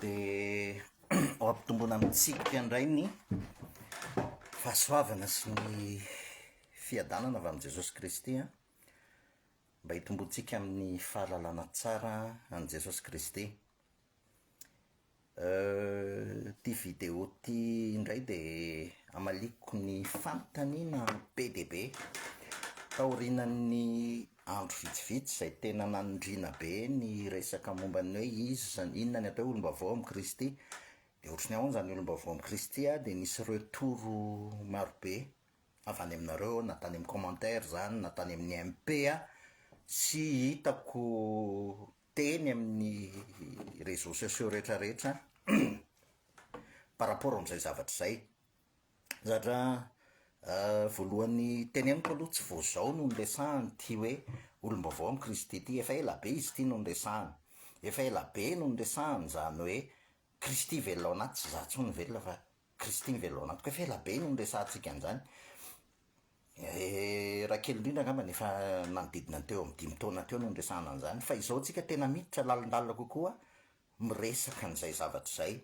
dia ho ampitomboina amintsika indray ny fahasoavana sy ny fiadanana avy amin'i Jesosy Kristy an, mba hitomboantsika amin'ny fahalalana tsara an'i Jesosy Kristy. Euh ty vidéo ty indray de amaliako ny fanontaniana be dia be. Taorianan'ny andro vitsivitsy izay tena nanindriana be ny resaka momba ny hoe iza izany, inona ny atao hoe olom-baovao amin'i Kristy. Dia ohatry ny ahoana izany olom-baovao amin'i Kristy aho dia nisy retours maro be avy any aminareo na tany amin'ny commentaires izany na tany amin'ny MP sy hitako teny amin'ny réseaux sociaux rehetra rehetra par rapport amin'izay zavatra izay. Zatra voalohany teneniko aloha tsy vao zao no niresahany ity hoe olom-baovao amin'i Kristy ity, efa ela be izy ity no niresahany, efa ela be no niresahany izany hoe Kristy velona ao anaty, tsy izaho intsony velona fa Christine velona tokoa fa ela be no niresahantsika an'izany. Raha kely indrindra angamba ny efa nanodidina ny teo amin'ny dimy taona teo no niresahana an'izany. Fa izao tsika tena miditra lalindalina kokoa miresaka an'izay zavatra izay.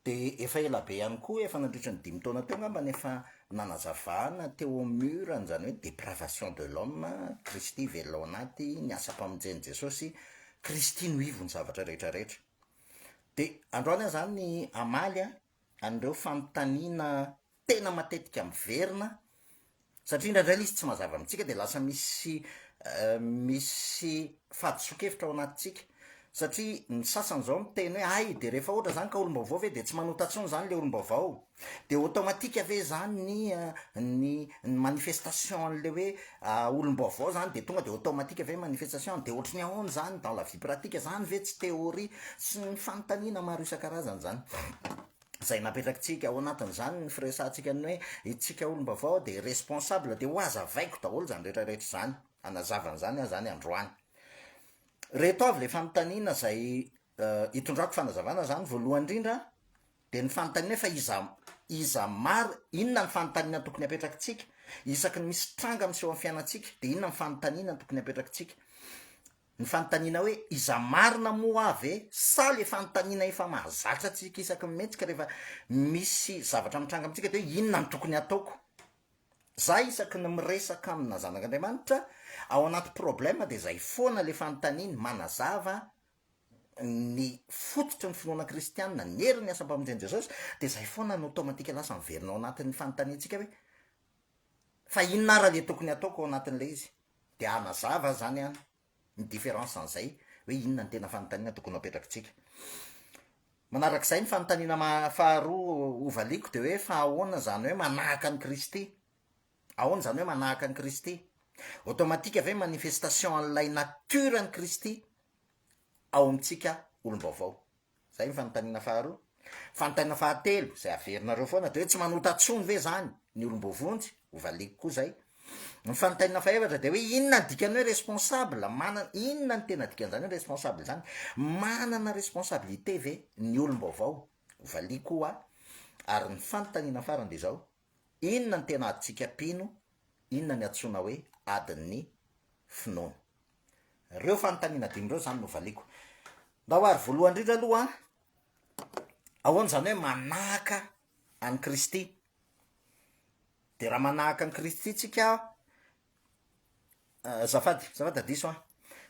Dia efa ela be ihany koa, efa nandritra ny dimy taona teo angamba no efa nanazavana teo amin'ny mur an'izany hoe depravation de l'homme, Kristy velona ao anaty, ny asam-pamonjen'i Jesosy, Kristy no ivo ny zavatra rehetra rehetra. Dia androany aho izany hamaly an, an'ireo fanontaniana tena matetika miverina, satria indraindray ilay izy tsy mazava amintsika dia lasa misy misy fahadisoan-kevitra ao anatintsika. Satria ny sasany izao miteny hoe hay, dia rehefa ohatra izany ka olom-baovao ve dia tsy manota intsony izany ilay olom-baovao? De automatique ve zany ny ny ny manifestation an'le hoe olom-baovao zany de tonga de automatique ve manifestation, de ohatry ny ahoana zany dans la vie pratique, zany ve tsy théorie? sy ny fanontaniana maro isan-karazany zany zay napetrakitsika ao anatin'izany ny firesahantsika ny hoe itsika olom-baovao de responsable de ho azavaiko daholo zany rehetra rehetra zany, hanazava an'izany aho zany androany. Reto avy le fanontaniana zay Hitondrako fanazavana zany voalohany indrindra dia ny fanontaniana fa iza iza mari inona ny fanontaniana tokony apetrakitsika isaky ny misy tranga miseho amin'ny fiainantsika dia inona ny fanontaniana tokony apetrakitsika ny fanontaniana hoe iza marina moa aho ve sa le fanontaniana efa mahazatra antsika isaky ny mihetsika rehefa misy zavatra mitranga amintsika dia hoe inona ny tokony ataoko za isaky ny miresaka amina zanak'Andriamanitra ao anaty problème dia zay foana le fanontaniany manazava ny fototry ny finoana kristianina, ny herin'ny asam-pamonjen'i Jesosy, dia izay foana no automatique lasa miverina ao anatin'ny fanontaniantsika hoe, fa inona ary ilay tokony hataoko ao anatin'ilay izy? Dia hanazava izany aho ny différence an'izay hoe inona ny tena fanontaniana tokony ho apetrakitsika. Manarak'izay ny fanontaniana faharoa hovaliako dia hoe fa ahoana izany hoe manahaka an'i Kristy? Ahoana izany hoe manahaka an'i Kristy? Automatique ve manifestation an'ilay nature an'i Kristy ao amintsika olom-baovao? Izay ny fanontaniana faharoa. Fanontaniana fahatelo, izay averinareo foana, dia hoe tsy manota intsony ve izany ny olom-boavonjy? Hovaliako koa izay. Ny fanontaniana fahefatra dia hoe inona ny dikan'ny hoe responsable? Manana, inona ny tena dikan'izany hoe responsable izany? Manana responsabilité ve ny olom-baovao? Hovaliako koa. Ary ny fanontaniana farany dia izao, Inona ny tena adintsika mpino? Inona ny antsoina hoe adin'ny finoana? Ireo fanontaniana dimy ireo izany no valiako. Ndao ary voalohany indrindra aloha, ahoana izany hoe manahaka an'i Kristy? Dia raha manahaka an'i Kristy tsika, eh, azafady, azafady adiso an.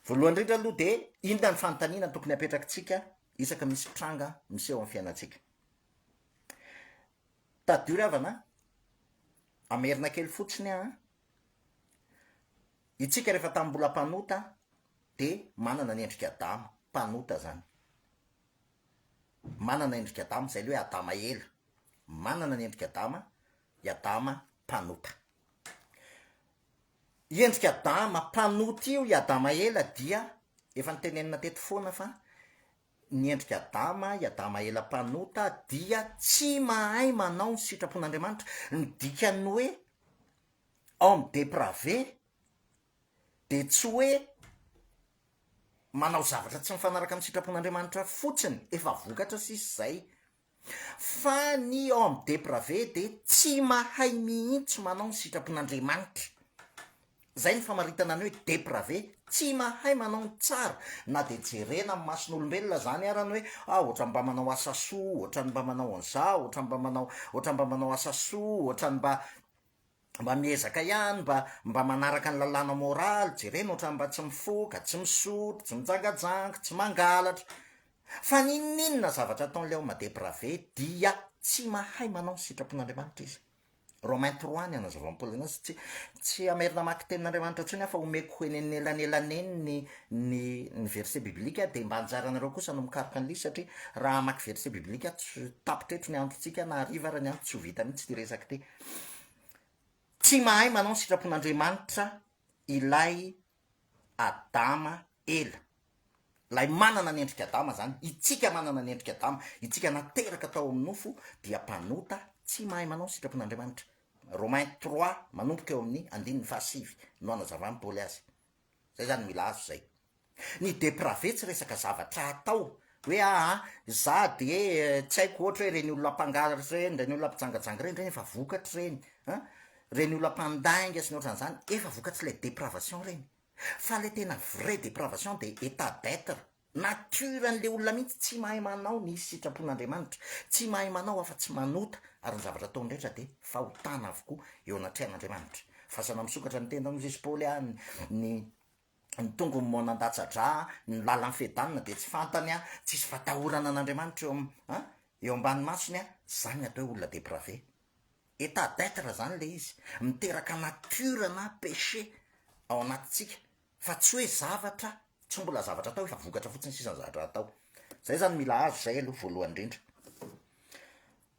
Voalohany indrindra aloha dia inona ny fanontaniana tokony apetrakitsika isaka misy tranga miseho amin'ny fiainantsika? Tadidio ry havana a! Hamerina kely fotsiny aho a! Itsika rehefa tamin'ny mbola mpanota dia manana ny endrik'i Adama, mpanota izany. Manana endrik'i Adama, izay ilay hoe Adama ela. Manana ny endrik'i Adama i Adama mpanota. I endrik'i Adama mpanota io i Adama ela dia efa notenenina teto foana fa ny endrik'i Adama, i Adama ela mpanota, dia tsy mahay manao ny sitrapon'Andriamanitra. Ny dikan'ny hoe homme dépravé dia tsy hoe manao zavatra tsy mifanaraka amin'ny sitrapon'Andriamanitra fotsiny, efa vokatra sisa izay. Fa ny homme depravé dia tsy mahay mihitsy manao ny sitrapon'Andriamanitra. Izay no famaritana ny hoe depravé, tsy mahay manao ny tsara, na dia jerena amin'ny mason'olombelona izany ara ny hoe ah ohatrany mba manao asa soa, ohatrany mba manao an'izao, ohatrany mba manao, ohatrany mba manao asa soa, ohatrany mba. mba miezaka ihany mba mba manaraka ny lalàna moraly, jerena ohatran'ny mba tsy mifoka, tsy misotro, tsy mijangajanga, tsy mangalatra. Fa n'inon'inona zavatra ataon'ilay homme dépravé dia tsy mahay manao ny sitrapon'Andriamanitra izy. Romains trois ny hanazavan'ny Paoly anazy, tsy tsy hamerina hamaky tenin'Andriamanitra intsony aho fa homeko ho eny anelanelaneny ny ny ny verset biblique dia mba anjaranareo kosa no mikaroka an'ilay izy satria raha hamaky verset biblique aho tsy tapitra eto ny androntsika na hariva ary ny andro tsy ho vita mihitsy ity resaka ity. Tsy mahay manao ny sitrapon'Andriamanitra ilay Adama ela, ilay manana ny endrik'i Adama izany, itsika manana ny endrik'i Adama, itsika nateraka tao amin'ny nofo dia mpanota tsy mahay manao ny sitrapon'Andriamanitra. Romains trois manomboka eo amin'ny andininy fahasivy no hanazavan'i Paoly azy. Izay izany mila azo izay. Ny deprave tsy resaka zavatra atao hoe aa za de tsy haiko ohatra hoe reny olona mpangaro ireny, reny olona mpijangajanga ireny, ireny efa vokatry ireny an, reny olona mpandainga sy ny ohatran'izany efa vokatry ilay depravation ireny, fa ilay tena vrai depravation de etat d'etre, nature an'ilay olona mihitsy tsy mahay manao ny sitrapon'Andriamanitra, tsy mahay manao afa tsy manota ary ny zavatra ataony rehetra de fahotana avokoa eo anatrehan'Andriamanitra, fasana misokatra ny tendany hoy Jesosy Paoly an, ny ny tongony moa nandatsa-dra an, ny lalan'i Fedanina dia tsy fantany an, tsisy fatahorana an'Andriamanitra eo am an, eo ambany masony an, zany ny atao hoe olona deprave, état d'être zany le izy, miteraka nature na péché ao anatintsika, fa tsy hoe zavatra, tsy mbola zavatra atao fa vokatra fotsiny sisa ny zavatra atao, zay zany mila azo zay aloha voalohany indrindra.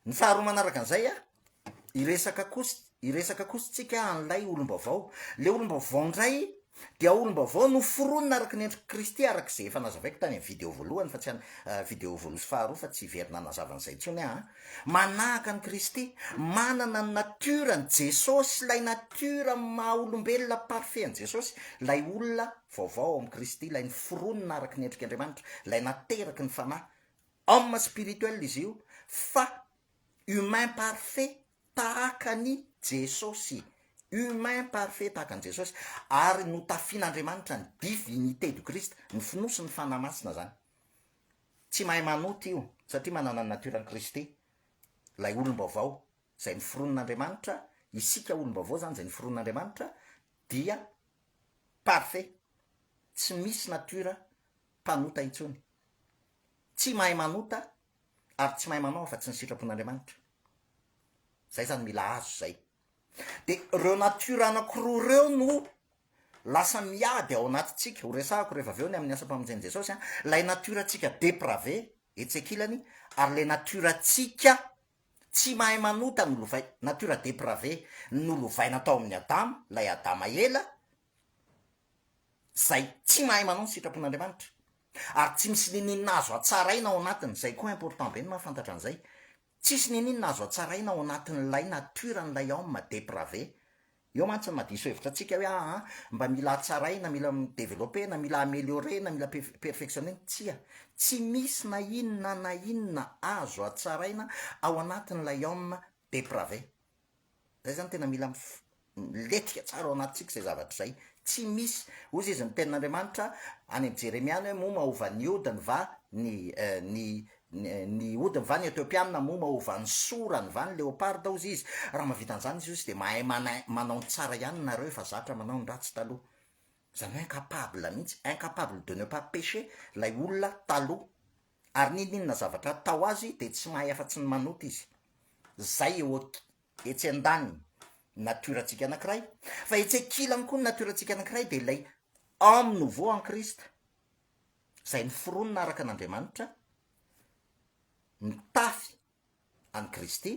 Ny faharoa manaraka an'izay a, hiresaka kosa hiresaka kosa isika an'ilay olom-baovao. Ilay olom-baovao indray dia olom-baovao noforonina araka ny endrik'i Kristy, araka izay efa nazavaiko tany amin'ny video voalohany fa tsy any, eh, video voalohany sy faharoa fa tsy very nanazava an'izay intsony aho. Manahaka an'i Kristy, manana ny natiorany Jesosy, ilay natiora maha-olombelona parfait an'i Jesosy, ilay olona vaovao ao amin'i Kristy, ilay noforonina araka ny endrik'Andriamanitra, ilay nateraky ny Fanahy. Homme spirituel izy io fa humain parfait tahaka an'i Jesosy. Humain parfait tahaka an'i Jesosy ary notafian'Andriamanitra ny divinité du Christ, ny fonosy ny Fanahy Masina zany. Tsy mahay manota io satria manana ny nature an'i Kristy lay olom-baovao zay noforonin'Andriamanitra, isika olom-baovao zany zay noforonin'Andriamanitra dia parfait, tsy misy nature mpanota intsony. Tsy mahay manota ary tsy mahay manao afa-tsy ny sitrapon'Andriamanitra. Zay zany mila azo zay. De reo nature anakiroa reo no lasa miady ao anatintsika, ho resahako rehefa avy eo ny amin'ny asam-pamonjen'i Jesosy an, lay nature antsika deprave etsy ankilany ary le nature antsika tsy mahay manota nolovay, nature deprave nolovaina tao amin'ny Adama, lay Adama ela, izay tsy mahay manao ny sitrapon'Andriamanitra ary tsy misy niniana azo hatsaraina ao anatiny, izay koa important be ny mahafantatra an'izay, tsisy niniana azo hatsaraina ao anatin'ilay nature an'ilay homme depravé, eo mantsy ny mahadiso hevitra antsika hoe aa mba mila hatsaraina, mila mi-developper-na, mila ameliorer-na, mila perfectionner-na, tsia, tsy misy na inona na inona azo hatsaraina ao anatin'ilay homme depravé. Zay izany tena mila miletika tsara ao anatintsika izay zavatra izay. Tsy misy, hozy izy ny tenin'Andriamanitra any amin'i Jeremia any hoe moa mahova ny odiny va ny ny ny odiny va ny Etiopiana, moa mahova ny sorany va ny leoparda hozy izy. Raha mahavita an'izany izy hozy dia mahay manao ny tsara ihany nareo efa zatra manao ny ratsy taloha. Izany hoe incapable mihitsy, incapable de ne pas pécher ilay olona taloha. ary n'inon'inona zavatra atao azy dia tsy mahay afa-tsy ny manota izy. Izay eo etsy an-daniny natiora-tsika anankiray, fa etsy an-kilany koa ny natiora-tsika anankiray dia ilay homme nouveau en Christ, izay niforonina araka an'Andriamanitra, nitafy an'i Kristy,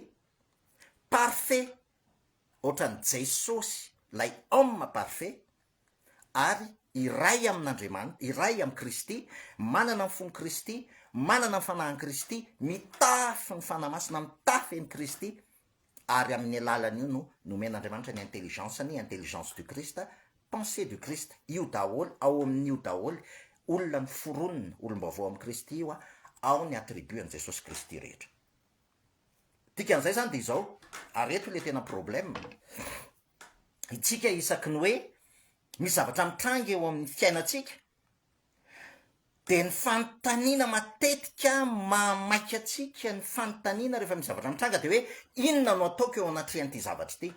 parfait ohatran'i Jesosy ilay homme parfait, ary iray amin'Andriamanitra, iray amin'i Kristy, manana ny fon'i Kristy, manana ny fanahin'i Kristy, mitafy ny Fanahy Masina, mitafy an'i Kristy, ary amin'ny alalan'io no nomen'Andriamanitra ny intelligence-ny, intelligence du Christ, pensée du Christ, io daholo, ao amin'io daholo, olona noforonina, olom-baovao amin'i Kristy io, ao ny attribut an'i Jesosy Kristy rehetra. Dikan'izay izany dia izao, ary eto ilay tena problème, itsika isaky ny hoe misy zavatra mitranga eo amin'ny fiainantsika, dia ny fanontaniana matetika mahamaika antsika ny fanontaniana rehefa misy zavatra mitranga dia hoe inona no ataoko eo anatrehan'ity zavatra ity?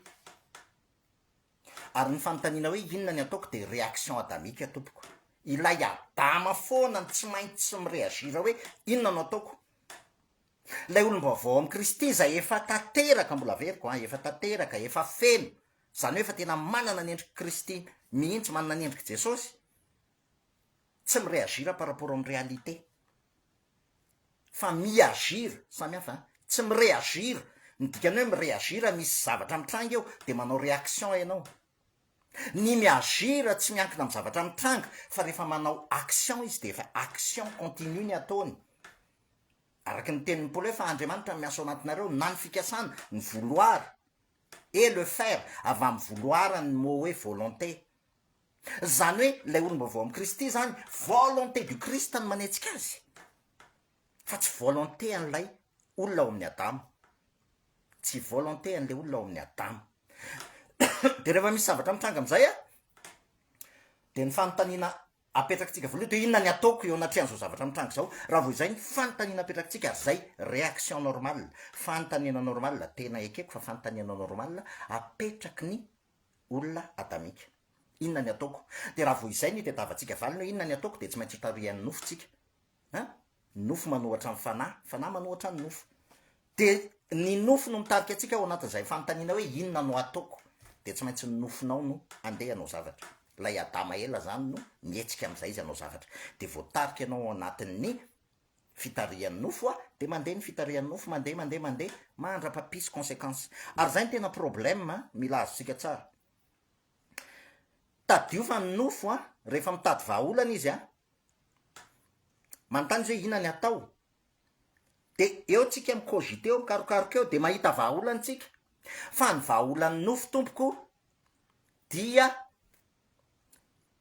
ary ny fanontaniana hoe inona ny ataoko dia réaction adamique tompoko, ilay adama foana no tsy maintsy mi-réagir hoe inona no ataoko? ilay olom-baovao amin'i Kristy izay efa tanteraka, mbola averiko an, efa tanteraka, efa feno, izany hoe efa tena manana ny endrik'i Kristy mihitsy, manana ny endrik'i Jesosy, tsy mi-reagir par rapport amin'ny réalité fa mi-agir, samy hafa an, tsy mi-reagir, ny dikany hoe mi-reagir misy zavatra mitranga eo dia manao réaction ianao, ny mi-agir tsy miankina amin'ny zavatra mitranga fa rehefa manao action izy dia efa action continue ny ataony, araka ny tenin'i Paoly hoe fa Andriamanitra no miasa ao anatinareo na ny fikasana, ny vouloir et le faire, avy amin'ny vouloir ny mot hoe volonté, Izany hoe ilay olom-baovao amin'i Kristy izany, volonté du Christ no manetsika azy, fa tsy volonté an'ilay olona ao amin'ny Adama. Tsy volonté an'ilay olona ao amin'ny Adama. Dia rehefa misy zavatra mitranga amin'izay, dia ny fanontaniana apetrakitsika voalohany, dia inona ny ataoko eo anatrehan'izao zavatra mitranga izao? Raha vao izay ny fanontaniana apetrakitsika, ary izay réaction normale, fanontaniana normale, tena ekeko fa fanontaniana normale, apetraky ny olona adamika. Inona ny ataoko? Dia raha vao izay ny itadiavantsika valiny hoe inona ny ataoko dia tsy maintsy ho tarihan'ny nofontsika. An? Ny nofo manohatra ny fanahy, ny fanahy manohatra ny nofo. Dia ny nofo no mitarika antsika ao anatin'izay fanontaniana hoe inona no ataoko? Dia tsy maintsy ny nofonao no andeha hanao zavatra. Ilay adama ela izany no mihetsika amin'izay izy hanao zavatra. Dia voatarika ianao ao anatin'ny fitarihan'ny nofo a, dia mandeha ny fitarihan'ny nofo, mandeha, mandeha, mandeha, mandra-papisy consequence. Ary izay no tena problème a, mila azontsika tsara. Tadidio fa ny nofo a, rehefa mitady vahaolana izy a, manontany izy hoe inona ny atao, dia eo tsika mi-cogiter eo, mikarokaroka eo, dia mahita vahaolana tsika, fa ny vahaolan'ny nofo tompoko dia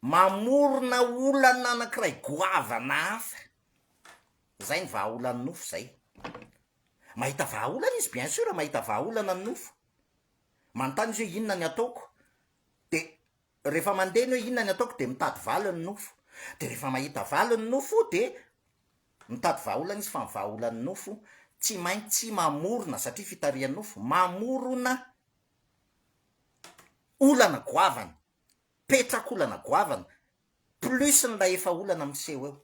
Mamorona olana anankiray goavana hafa, izay ny vahaolan'ny nofo izay. Mahita vahaolana izy bien sûr, mahita vahaolana ny nofo. Manontany izy hoe inona ny ataoko? Dia rehefa mandeha ny hoe inona ny ataoko dia mitady valiny ny nofo. Dia rehefa mahita valiny ny nofo dia mitady vahaolana izy fa ny vahaolan'ny nofo tsy maintsy mamorona satria fitarihan'ny nofo, mamorona olana goavana. Petrak'olana goavana, plus n'ilay efa olana miseho eo.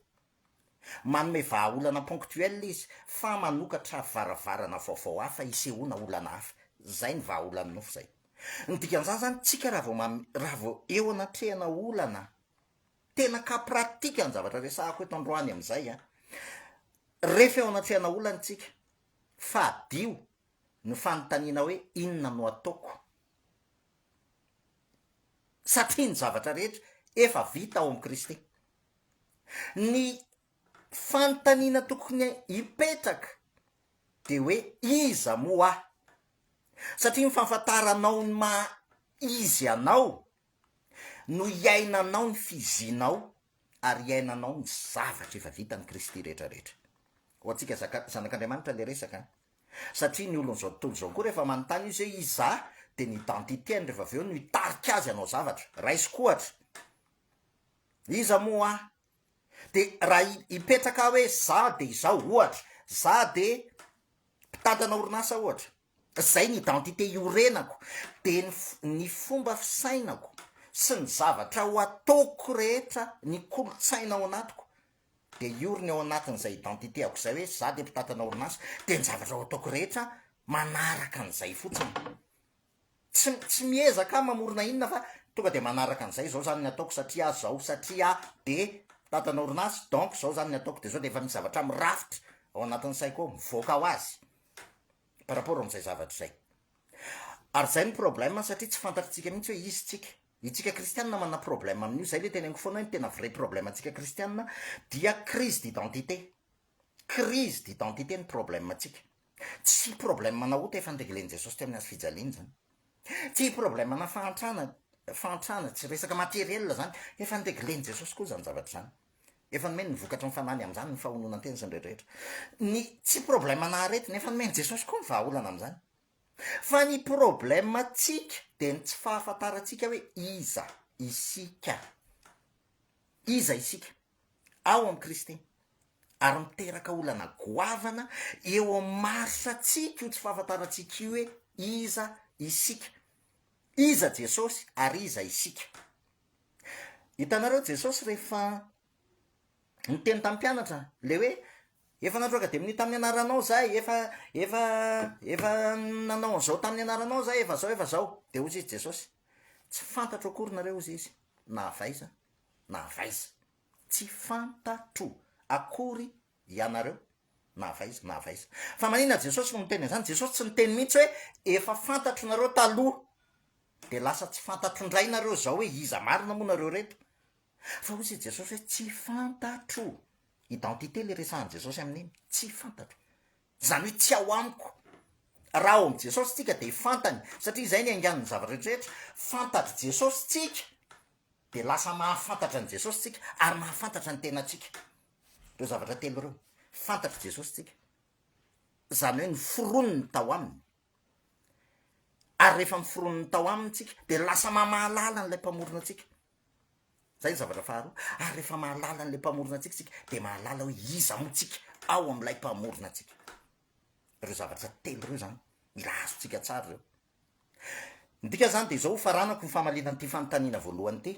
Manome vahaolana ponctuel izy fa manokatra varavarana vaovao hafa hisehoana olana hafa. Zay ny vahaolan'ny nofo zay. Ny dikan'izany zany tsika raha vao mamy, raha vao eo anatrehana olana, tena cas pratique ny zavatra resahako eto androany amin'izay an! Rehefa eo anatrehana olana tsika, fadio ny fanontaniana hoe inona no ataoko Satria ny zavatra rehetra efa vita ao amin'i Kristy. Ny fanontaniana tokony hipetraka dia hoe iza moa aho? Satria ny fahafantaranao ny maha izy anao no iainanao ny fizinao ary iainanao ny zavatra efa vitan'i Kristy rehetra rehetra. Ho antsika zaka, zanak'Andriamanitra ilay resaka an. satria ny olon'izao tontolo izao koa rehefa manontany izy hoe iza dia ny identité-ny rehefa avy eo no hitarika azy hanao zavatra. Raisiko ohatra, iza moa aho? Dia raha hipetraka aho hoe za dia izao, ohatra, za dia mpitantana orinasa ohatra, izay ny identité iorenako, dia ny ny fomba fisainako sy ny zavatra ho ataoko rehetra, ny kolontsaina ao anatiko, dia hiorina eo anatin'izay identité-ako izay hoe za dia mpitatana orinasa, dia ny zavatra ho ataoko rehetra manaraka an'izay fotsiny. Tsy, tsy miezaka aho mamorona inona fa tonga dia manaraka an'izay, izao izany ny ataoko satria izao, satria aho dia mpitatana orinasa, donc izao izany ny ataoko, dia izao dia efa misy zavatra mirafitra ao anatin'ny saiko ao, mivoaka ho azy par rapport amin'izay zavatra izay. Ary izay no problème satria tsy fantatritsika mihitsy hoe izy tsika. Itsika kristianina manana problème amin'io, zay le teneniko foana hoe ny tena vrai problème antsika kristianina dia crise d'identité, crise d'identité ny problème antsika, tsy problème ana ota efa nireglen'i Jesosy teo amin'ny hazo fijaliany zany, tsy problème ana fahantrana, fahantrana, tsy resaka matériel zany, efa nireglen'i Jesosy koa zany zavatra zany, efa nomeny ny vokatry ny fanahy ny amin'izany ny fahononan-tena sy ny rehetra rehetra, ny tsy problème ana aretina efa nomen'i Jesosy koa ny vahaolana amin'izany, Fa ny problème antsika dia ny tsy fahafantarantsika hoe iza isika. Iza isika ao amin'i Kristy. Ary miteraka olana goavana eo amin'ny marisantsika io tsy fahafantarantsika io hoe iza isika. Iza Jesosy ary iza isika. Hitanareo Jesosy rehefa niteny tamin'ny mpianatra ilay hoe efa natroaka dia minia tamin'ny anaranao zah e, efa efa efa nanao an'izao tamin'ny anaranao zah efa zao efa zao, dia hozy izy Jesosy, tsy fantatro akory nareo hozy izy, na avy aiza na avy aiza, tsy fantatro akory ianareo na avy aiza na avy aiza, fa maninona Jesosy no miteny an'izany, Jesosy tsy niteny mihintsy hoe efa fantatro nareo taloha, dia lasa tsy fantatro indray nareo zao hoe iza marina moa nareo reto, Fa hoy i Jesosy hoe tsy fantatro. Identité ilay resahan'i Jesosy amin'iny, tsy fantatro. Izany hoe tsy ao amiko. Raha ao amin'i Jesosy tsika dia fantany, satria izay ny aingan'ny zavatra rehetrarehetra. Fantatr'i Jesosy tsika, dia lasa mahafantatra an'i Jesosy tsika, ary mahafantatra ny tenantsika. Ireo zavatra telo ireo. Fantatr'i Jesosy tsika. Izany hoe noforoniny tao aminy. ary rehefa miforonony tao aminy tsika dia lasa mamahalala an'ilay mpamorona antsika zay ny zavatra faharoa ary rehefa mahalala an'ilay mpamorona antsika tsika dia mahalala hoe iza moa tsika ao am'ilay mpamorona antsika reo zavatra telo ireo zany mila azontsika tsara reo ny dika zany dia zao ho faranako ny famalinan'ity fanontaniana voalohany ity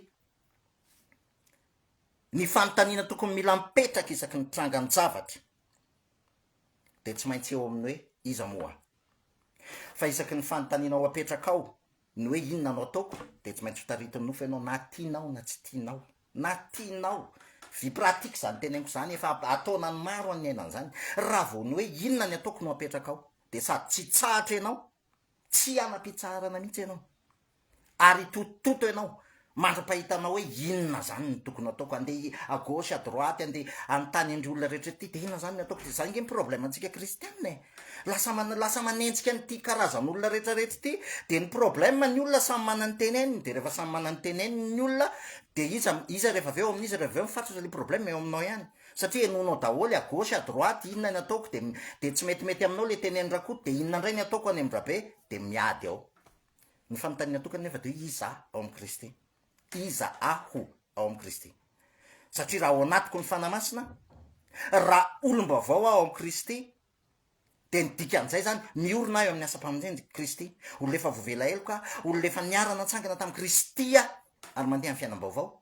ny fanontaniana tokony mila mipetraka isaky ny trangan-javatra dia tsy maintsy eo amin'ny hoe iza moa aho. Fa isaky ny fanontanianao apetrakao ny hoe inona no ataoko dia tsy maintsy ho taritin'ny nofo ianao na tianao na tsy tianao, na tianao, vie pratique izany teneniko izany, efa ataonan'ny maro any ny ainany izany, raha vao ny hoe inona ny ataoko no apetrakao dia sady tsy hitsahatra ianao Tsy hanam-pitsaharana mihitsy ianao. Ary hitotototo ianao mandra-pahitanao hoe inona izany no tokony hataoko. Handeha à gauche, à droite, handeha hanontany an'ireo olona rehetra ity, dia inona izany no hataoko ity. Izany ange ny problème-ntsika kristiana e! Lasa man- lasa manenjika an'ity karazan'olona rehetrarehetra ity. Dia ny problème, ny olona samy manana ny teneniny. Dia rehefa samy manana ny teneniny ny olona, dia iza, iza rehefa avy eo, amin'iza rehefa avy eo ny fatratra, ilay problème eo aminao ihany. Satria henoinao daholo à gauche à droite inona ny ataoko dia dia tsy metimety aminao ilay tenenin'i Rakoto dia inona indray ny ataoko any amin-dRabe dia miady ao. Ny fanontaniana tokana nefa dia hoe iza aho ao amin'i Kristy? Iza aho ao amin'i Kristy? Satria raha ao anatiko ny Fanahy Masina, raha olom-baovao aho ao amin'i Kristy, dia ny dikan'izay izany, miorina aho eo amin'ny asam-pamonjen'i Kristy. Olona efa voavela heloka aho, olona efa niara-natsangana tamin'i Kristy aho ary mandeha amin'ny fiainam-baovao.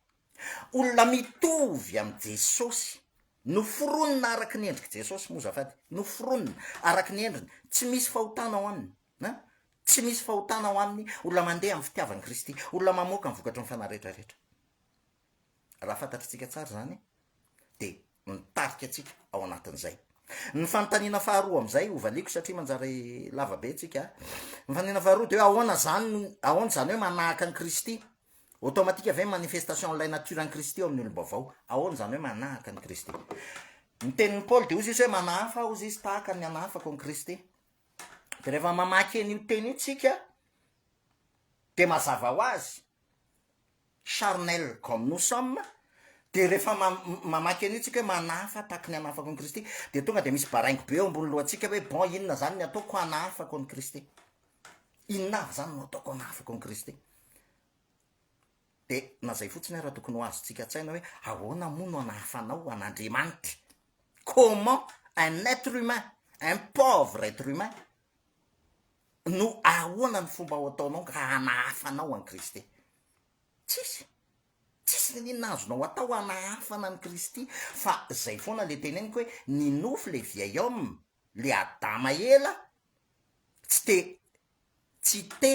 Olona mitovy amin'i Jesosy. Noforonina araka ny endrik'i Jesosy moa zafady. Noforonina araka ny endriny. Tsy misy fahotana ao aminy. An? Tsy misy fahotana ao aminy. Olona mandeha amin'ny fitiavan'i Kristy. Olona mamoaka ny vokatry ny fanahy rehetrarehetra. Raha fantatritsika tsara izany, dia mitarika antsika ao anatin'izay. Ny fanontaniana faharoa amin'izay ho valiako satria manjary lava be antsika. Ny fanontaniana faharoa dia hoe ahoana izany, ahoana izany hoe manahaka an'i Kristy? Automatique ve manifestation an'ilay nature an'i Kristy ao amin'ny olom-baovao? Ahoana izany hoe manahaka an'i Kristy? Ny tenin'i Paoly dia hozy izy hoe manahafa aho hozy izy tahaka ny anahafako an'i Kristy. Dia rehefa mamaky an'io teny io tsika dia mazava ho azy charnel comme nous sommes dia rehefa mamaky an'io tsika hoe manahafa tahaky ny hanahafako an'i Kristy dia tonga dia misy baraingo be eo ambony lohantsika hoe bon inona izany ny ataoko hanahafako an'i Kristy? Inona avy izany no ataoko hanahafako an'i Kristy? Dia na izay fotsiny ary tokony ho azontsika an-tsaina hoe ahoana moa no hanahafanao an'Andriamanitra? Comment un être humain, un pauvre être humain No ahoana ny fomba ho ataonao raha hanahafa anao an'i Kristy? Tsisy! Tsisy n'inon'inona azonao atao hanahafana an'i Kristy fa zay foana le teneniko hoe ny nofo le vieil homme, le Adama ela tsy te tsy te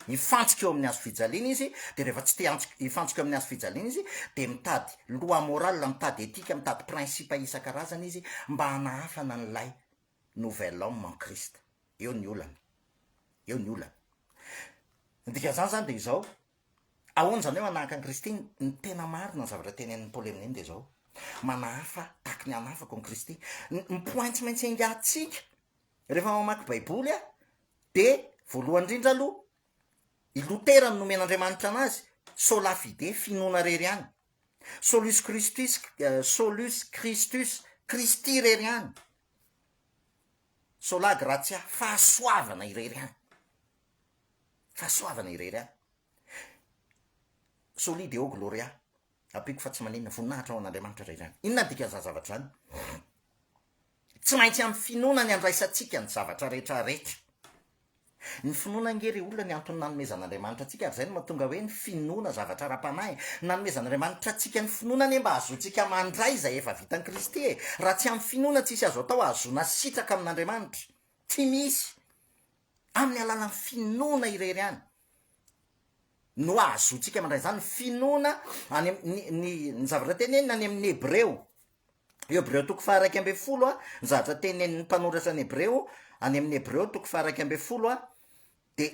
hifantsika eo amin'ny hazo fijaliana izy de rehefa tsy te hifantsika eo amin'ny hazo fijaliana izy de mitady loi morale, mitady etika, mitady principe isan-karazany izy mba hanahafana an'ilay nouvel homme en Christ. Eo ny olana. Eo ny olana. Ny dikan'izany izany dia izao, ahoana izany hoe manahaka an'i Kristy? Ny tena marina ny zavatra tenenin'i Paoly amin'iny dia izao, manahafa tahaky ny hanafako an'i Kristy. Ny point tsy maintsy engahantsika rehefa mamaky Baiboly dia voalohany indrindra aloha, i Lotera no nomen'Andriamanitra anazy, sola fide, finoana irery ihany. Solus Christus, Solus Christus, Kristy irery ihany, Sola Gratia, fahasoavana irery ihany, fahasoavana irery ihany, Soli Deo Gloria, ampiako fa tsy maninona, voninahitra ho an'Andriamanitra irery ihany. Inona ny dikan'izany zavatra izany? Tsy maintsy amin'ny finoana ny handraisantsika ny zavatra rehetra rehetra. Ny finoana ange ry olona ny antony nanomezan'Andriamanitra antsika ary izay no mahatonga hoe ny finoana zavatra ara-panahy. Nanomezan'Andriamanitra antsika ny finoana anie mba hahazoantsika mandray izay efa vitan'i Kristy e! Raha tsy amin'ny finoana tsisy azo atao hahazoana sitraka amin'Andriamanitra. Tsy misy! Amin'ny alalan'ny finoana irery ihany no hahazoantsika mandray izany. Ny finoana any am, ny, ny, ny zavatra tenenina any amin'ny Hebreo Hebreo toko faharaika ambin'ny folo ny zavatra tenenin'ny mpanoratra ny Hebreo, any amin'ny Hebreo toko faharaika ambin'ny folo, dia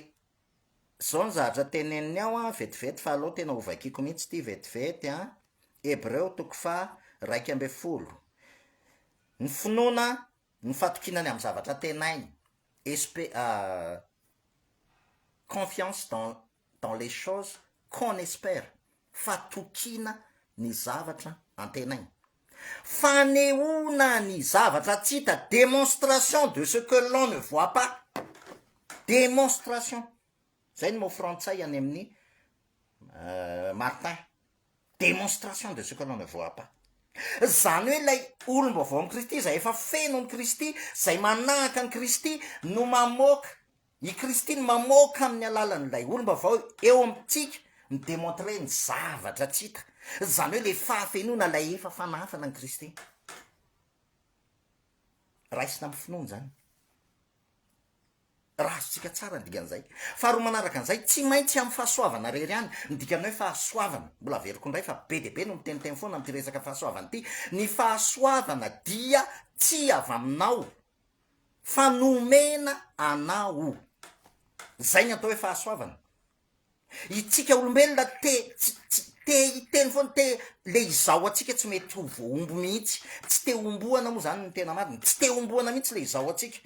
izao ny zavatra teneniny ao an, vetivety fa aleo tena hovakiko mihitsy ity vetivety an, Hebreo toko faharaika ambin'ny folo, ny finoana ny fatokiana ny amin'ny zavatra tenainy, espe- confiance dans dans les choses qu'on espère, fatokiana ny zavatra antenaina, fanehoana ny zavatra tsy hita, démonstration de ce que l'on ne voit pas, démonstration, zay ny mot frantsay any amin'ny Martin, démonstration de ce que l'on ne voit pas, zany hoe ilay olom-baovaon'i Kristy izay efa feno an'i Kristy, izay manahaka an'i Kristy no mamoaka I Kristy no mamoaka amin'ny alalan'ilay olom-baovao eo amintsika, mi-demontrer ny zavatra tsy hita, izany hoe ilay fahafenoana ilay efa fanafana an'i Kristy. Raisina amin'ny finoana izany. Raha azontsika tsara ny dikan'izay. Faharoa manaraka an'izay, tsy maintsy amin'ny fahasoavana rery ihany, ny dikany hoe fahasoavana. Mbola averiko indray fa be dia be no miteniteny foana amin'ity resaka fahasoavana ity. Ny fahasoavana dia tsy avy aminao, fa nomena anao. Izay ny atao hoe fahasoavana. Itsika olombelona te tsy tsy te hiteny foana, te le izaho antsika tsy mety ho voahombo mihitsy. Tsy te homboana moa izany ny tena marina, tsy te homboana mihitsy le izaho antsika.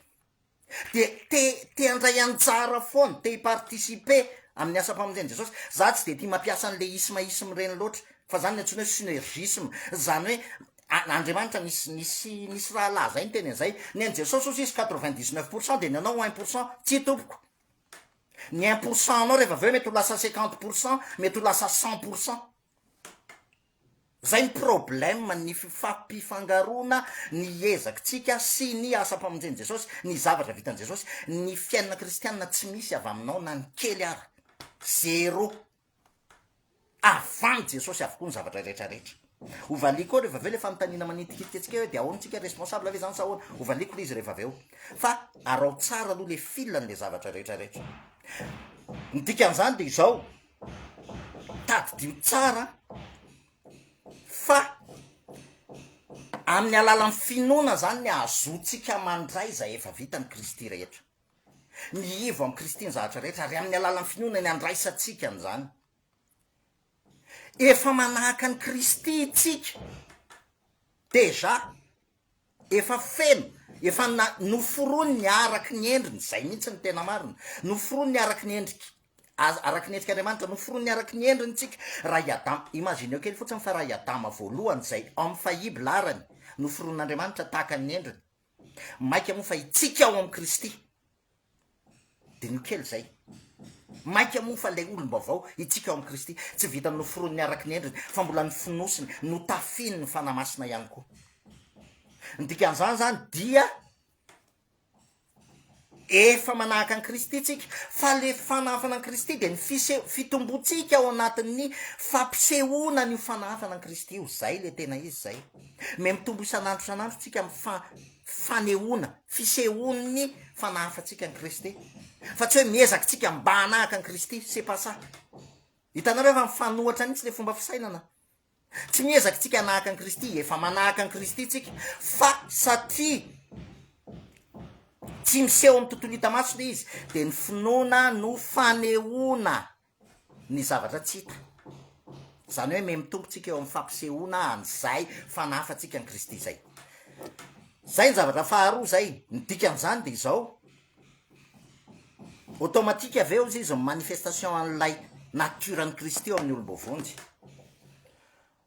Dia te te handray anjara foana, te hi-participer amin'ny asam-pamonjen'i Jesosy. Za tsy dia tia mampiasa an'le isme isme ireny loatra, fa izany no antsoina hoe synergisme, izany hoe An Andriamanitra nisy nisy nisy rahalahy zay niteny an'izay, ny an'i Jesosy ozy izy quatre vingt dix neuf pour cent dia ny anao un pour cent, tsia tompoko, ny un pour cent anao rehefa avy eo mety ho lasa cinquante pour cent, mety ho lasa cent pour cent. Zay ny problème ny fifampifangaroana ny ezakitsika sy ny asam-pamonjen'i Jesosy, ny zavatra vitan'i Jesosy, ny fiainana kristianina tsy misy avy aminao na ny kely ara, zéro. Avan'i Jesosy avokoa ny zavatra rehetra rehetra. Hovaliako ao rehevaveo le fanontaniana manitikitika antsika hoe dia ahoana tsika responsable ve izany sa ahoana? Hovaliako le izy rehevaveo. Fa araho tsara aloha le fil an'le zavatra rehetra rehetra. Ny dikan'izany dia izao, tadidio tsara fa amin'ny alalan'ny finoana izany ny ahazoantsika mandray izay efa vitan'i Kristy rehetra. Mihivo amin'i Kristy ny zavatra rehetra, ary amin'ny alalan'ny finoana ny andraisantsika an'izany. Efa manahaka an'i Kristy itsika, dejà. Efa feno, efa na, noforoniny araky ny endriny, izay mihitsy ny tena marina. Noforoniny araky ny endriky, araky ny endrik'Andriamanitra, noforoniny araky ny endriny tsika. Raha i Adama, imagineo kely fotsiny fa raha i Adama voalohany, izay Homme faillible arany, noforon'Andriamanitra tahaka ny endriny, Maika moa fa itsika ao amin'i Kristy dia ny kely izay. Maika moa fa ilay olom-baovao itsika ao amin'i Kristy tsy vitan'ny noforoniny araka ny endriny fa mbola nofonosiny, notafihin'ny Fanahy Masina ihany koa. Ny dikan'izany izany dia. Efa manahaka an'i Kristy isika, fa ilay fanahafana an'i Kristy dia ny fise, fitombontsika ao anatin'ny fampisehoana an'io fanahafana an'i Kristy io. Izay ilay tena izy izay. Me mitombo isan'andro isan'andro isika amin'ny fa, fanehoana, fisehoan'ny fanahafantsika an'i Kristy. Fa tsy hoe miezaka isika mba hanahaka an'i Kristy, c'est pas ça. Hitanareo fa mifanohatra mihitsy ilay fomba fisainana. Tsy miezaka tsika hanahaka an'i Kristy, efa manahaka an'i Kristy tsika, fa satria tsy miseho amin'ny tontolo hita maso le izy, de ny finoana no fanehoana ny zavatra tsy hita. Zany hoe memy tompo tsika eo amin'ny fampisehoana an'izay fanahy fa tsika an'i Kristy zay. Zay ny zavatra faharoa zay, ny dikan'izany de izao, Automatique avy eo izy izy ny manifestation an'ilay nature an'i Kristy eo amin'ny olom-boavonjy.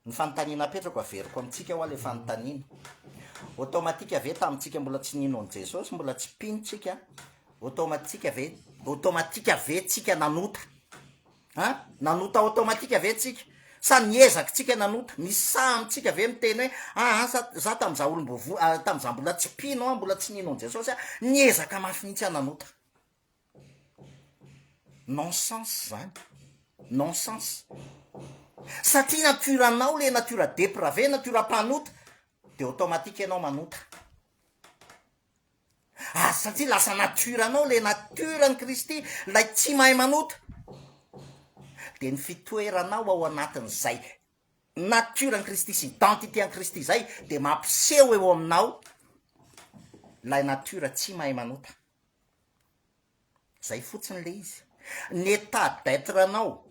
Ny fanontaniana apetrako averiko amintsika hoa ilay fanontaniana. Automatique ve tamintsika mbola tsy nino an'i Jesosy, mbola tsy mpino tsika, automatique ve, automatique ve tsika nanota An! nanota automatique ve tsika? Sa niezaky tsika nanota? Nisy saha amintsika ve miteny hoe ah an sa za tam za olombovo tam za mbola tsy mpino an mbola tsy nino an Jesosy an niezaka mafy mihitsy an nanota? Non sens zany! Non sens! Satria nature anao le nature deprave, nature mpanota de automatique enao manota. Ary satria lasa nature anao ilay nature an'i Kristy, ilay tsy mahay manota, dia ny fitoeranao ao anatin'izay nature an'i Kristy sy identité an'i Kristy izay dia mampiseho eo aminao ilay nature tsy mahay manota. Zay fotsiny le izy. Ny état d'être anao,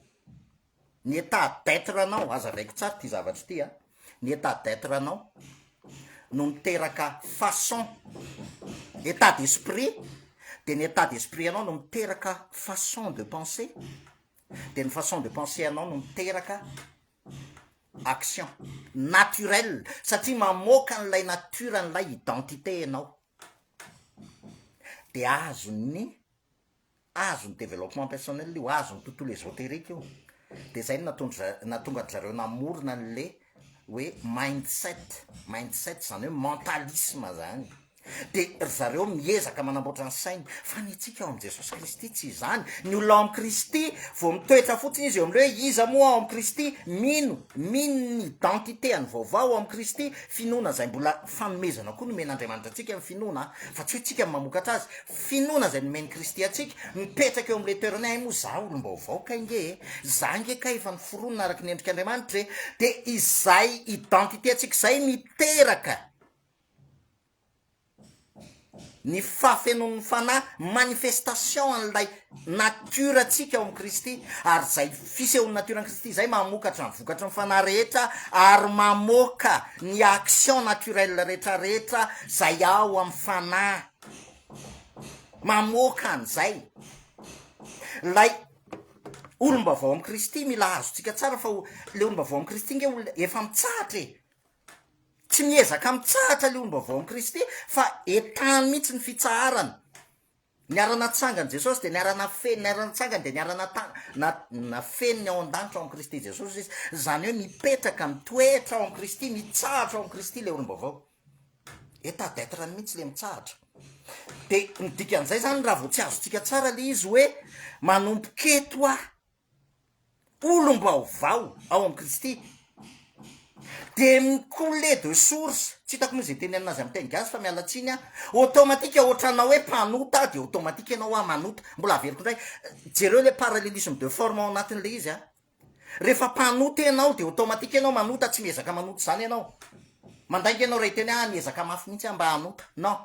ny état d'être anao, aza avaiko tsara ity zavatra ity a, ny état d'être anao no miteraka façon, état d'esprit, de ny état d'esprit anao no miteraka façon de penser, de ny façon de penser anao no miteraka action naturelle satria mamoaka an'ilay nature an'ilay identité ianao. de azon'ny azon'ny développement personnel io, azon'ny tontolo esoterique io, de zay no nataondry za- nahatonga an-dry zareo namorona an'le hoe mind set, mind set zany hoe mentalisme zany, de ry zareo miezaka manamboatra ny sainy, fa ny antsika ao amin'i Jesosy Kristy tsy izany, ny olona ao amin'i Kristy vao mitoetra fotsiny izy eo amin'le hoe iza moa aho ao amin'i Kristy, mino mino ny identité-ny vaovao ao amin'i Kristy, finoana zay mbola Fanomezana koa nomen'Andriamanitra antsika ny finoana, fa tsy hoe tsika no mamokatra azy. Finoana izay nomen'i Kristy antsika, mipetraka eo amin'ilay toerana hay moa za olom-baovao kay nge e, za nge kay efa noforonina araka ny endrik'Andriamanitra e, dia izay identité antsika izay miteraka. ny fahafenoan'ny Fanahy, manifestation an'ilay nature ntsika ao amin'i Kristy, ary izay fisehoan'ny nature an'i Kristy izay mamokatra ny vokatry ny Fanahy rehetra ary mamoaka ny action naturelle rehetrarehetra izay ao amin'ny Fanahy, mamoaka an'izay, ilay olom-baovao amin'i Kristy, mila azontsika tsara fa ilay olom-baovao amin'i Kristy nge olona efa mitsahatra e! Tsy miezaka mitsahatra ilay ombaovaon'i Kristy fa entahany mihitsy ny fitsaharana. Niara-natsangan'i Jesosy dia niara-nafeniny, niara-natsangany dia niara-nata- na- nafeniny ao an-danitra ao amin'i Kristy Jesosy izy. Izany hoe mipetraka, mitoetra ao amin'i Kristy, mitsahatra ao amin'i Kristy ilay olom-baovao. Etat d'être-ny mihitsy ilay mitsahatra. Dia ny dikan'izay izany raha vao tsy azontsika tsara ilay izy hoe manomboka eto aho, olom-baovao ao amin'i Kristy dia mi-couler de source, tsy hitako moa izay teny anina azy amin'ny teny gasy fa miala tsiny aho, automatique ohatranao hoe mpanota dia automatique ianao hoa manota, mbola averiko indray, jereo ilay parallelisme de forme ao anatin'ilay izy an, rehefa mpanota ianao dia automatique ianao manota, tsy miezaka manota izany ianao, mandainga ianao raha hiteny hoe ah niezaka mafy mihintsy aho mba hanota, non,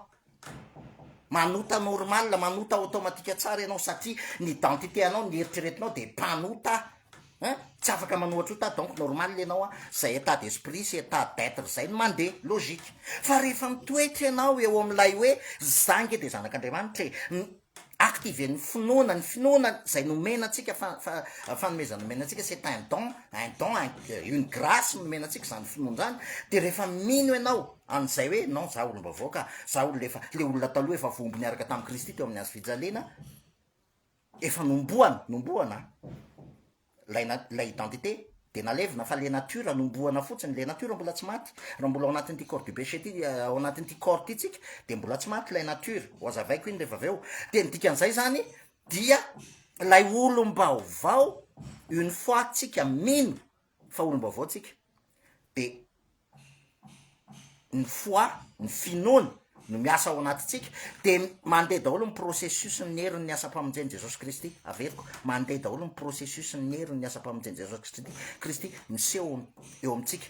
Manota normal, manota automatique tsara ianao satria ny identité anao, ny eritreretinao dia mpanota an, tsy afaka manohatra ota donc normal ianao an, izay état d'esprit sy état d'être izay no mandeha, logique. Fa rehefa mitoetra ianao eo amin'ilay hoe za nge dia zanak'Andriamanitra e, Activer ny finoana, ny finoana zay nomena antsika fa fa fanomezana nomena antsika c'est un don, un don, une grace nomena antsika zany finoana zany, de rehefa mino ianao an'izay hoe non za olom-baovao ka, za olona efa le olona taloha efa voamby niaraka tamin'i Kristy teo amin'ny hazo fijaliana, efa nombohana, nombohana an. Ilay na, ilay identité dia nalevina fa le nature nombohana fotsiny, le nature mbola tsy maty, raha mbola ao anatin'ity corps du péché ity, ao anatin'ity corps ity tsika dia mbola tsy maty ilay nature, ho azavaiko iny rehefa avy eo, dia ny dikan'izay zany dia ilay olom-baovao une fois tsika mino fa olom-baovao tsika dia ny foi, ny finoana no miasa ao anatintsika dia mandeha daholo ny processus ny herin'ny asam-pamonjen'i Jesosy Kristy, averiko, mandeha daholo ny processus ny herin'ny asam-pamonjen'i Jesosy Kristy miseho eo amintsika.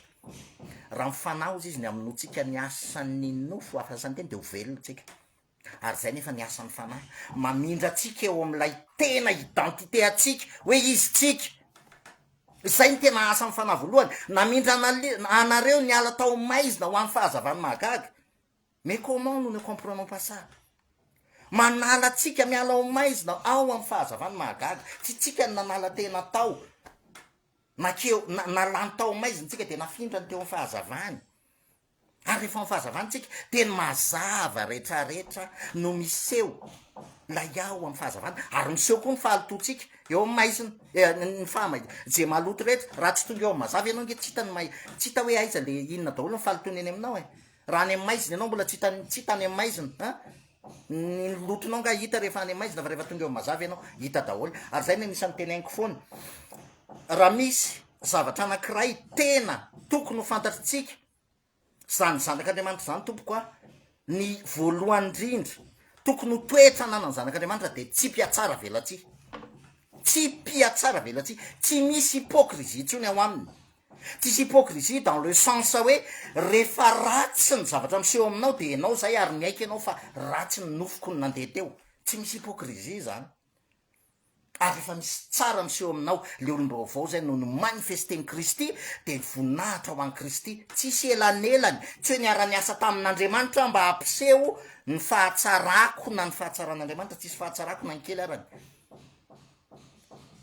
Raha mifanaoza izy ny amin'ny notsika ny asan'ny nofo, asan'ny teny dia ho velona tsika. Ary izay nefa ny asan'ny Fanahy, mamindra antsika eo amin'ilay tena identité antsika, hoe izy tsika. Izay ny tena asan'ny Fanahy voalohany, namindra anareo niala tao amin'ny maizina ho amin'ny fahazavan'ny mahagaga. Mais comment nous ne comprenons pas ça? Manala antsika miala ao maizina ao amin'ny fahazavan'ny mahagaga. Tsy tsika ny nanala tena tao, nakeo, na, nalany tao maizina tsika dia nafindrany teo amin'ny fahazavany. ary efa amin'ny fahazavantsika dia ny mazava retraretra no miseho lay ao amin'ny fahazavana ary miseho koa ny fahalotoantsika eo amin'ny maizina eh, ny fahamai je maloto rehetra raha tsy tonga eo amin'ny mazava ianao nge tsy hita ny mai tsy hita hoe aiza le inona daholo ny fahalotoana eny aminao e raha any amin'ny maizina ianao mbola tsy hita tsy hita any amin'ny maizina a Ny lotonao nga hita rehefa any maizina fa rehefa tonga eo mazava ianao hita daholo ary zay no anisan'ny tenainiko foana raha misy zavatra anankiray tena tokony ho fantatritsika zany zanak'andriamanitra zany tompoko a ny voalohany indrindra tokony ho toetra ananany zanak'andriamanitra de tsy mpiatsara velatsihy tsy mpiatsara velatsihy tsy misy hypocrisie intsony ao aminy Tsisy hypocrisie dans le sens hoe rehefa ratsy ny zavatra miseho aminao dia ianao izay ary miaiky ianao fa ratsy ny nofoko no nandeha teo. Tsy misy hypocrisie izany. Ary rehefa misy tsara miseho aminao, ilay olom-baovao izay no no-manifester-n'i Kristy, dia voninahitra ho an'i Kristy. Tsisy elanelany. Tsy hoe niara-niasa tamin'Andriamanitra aho mba hampiseho ny fahatsarako na ny fahatsaran'Andriamanitra. Tsisy fahatsarako na ny kely arany.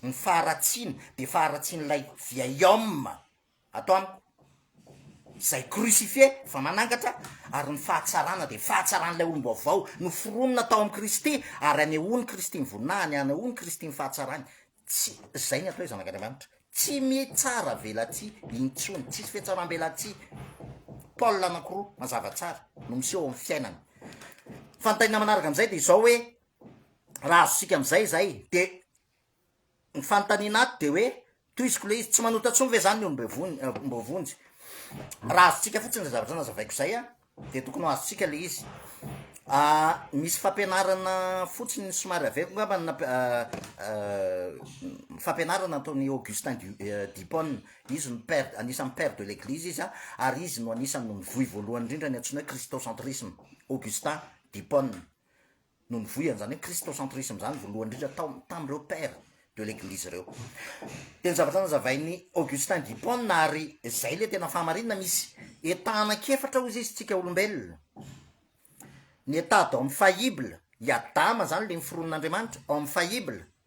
Ny faharatsiana dia faharatsian'ilay vieil-homme ato amiko, izay crucifié, efa manangatra, ary ny fahatsarana dia fahatsaran'ilay olom-baovao noforonina tao amin'i Kristy, ary hanehoan'i Kristy ny voninahiny, hanehoan'i Kristy ny fahatsarany. Tsy izay ny atao Zanak'Andriamanitra. Tsy mitsaravelatsihy intsony, tsisy fihatsaram-belatsihy. Paul anankiroa mazava tsara no miseho ao amin'ny fiainana. Fa ny tainina manaraka amin'izay dia izao hoe, raha azontsika amin'izay izay de ny fanontaniana ato de hoe toiziko le izy tsy manota tsony ve zany ny olomboavonjy raha azontsika fotsiny zay zavatra nazavaiko zay a de tokony ho azontsika le izy Ah, misy fampianarana fotsiny somary avy eko ngamba na ah, ah, fampianarana ataony Augustin eh, Dipon izy no père anisan'ny père de l'église izy a ary izy no anisan'ny nivoy voalohany indrindra ny antsoina hoe christocentrisme Augustin Dipon no nivoy an'izany hoe christocentrisme izany voalohany indrindra tao tamin'ireo père de l'église ireo. Dia ny zavatra nazavain'i Augustin d'Hippone ary izay ilay tena fahamarinana misy état anankiefatra hoy izy isika olombelona. Ny état d'homme faillible, i Adama izany ilay niforonin'Andriamanitra, homme faillible,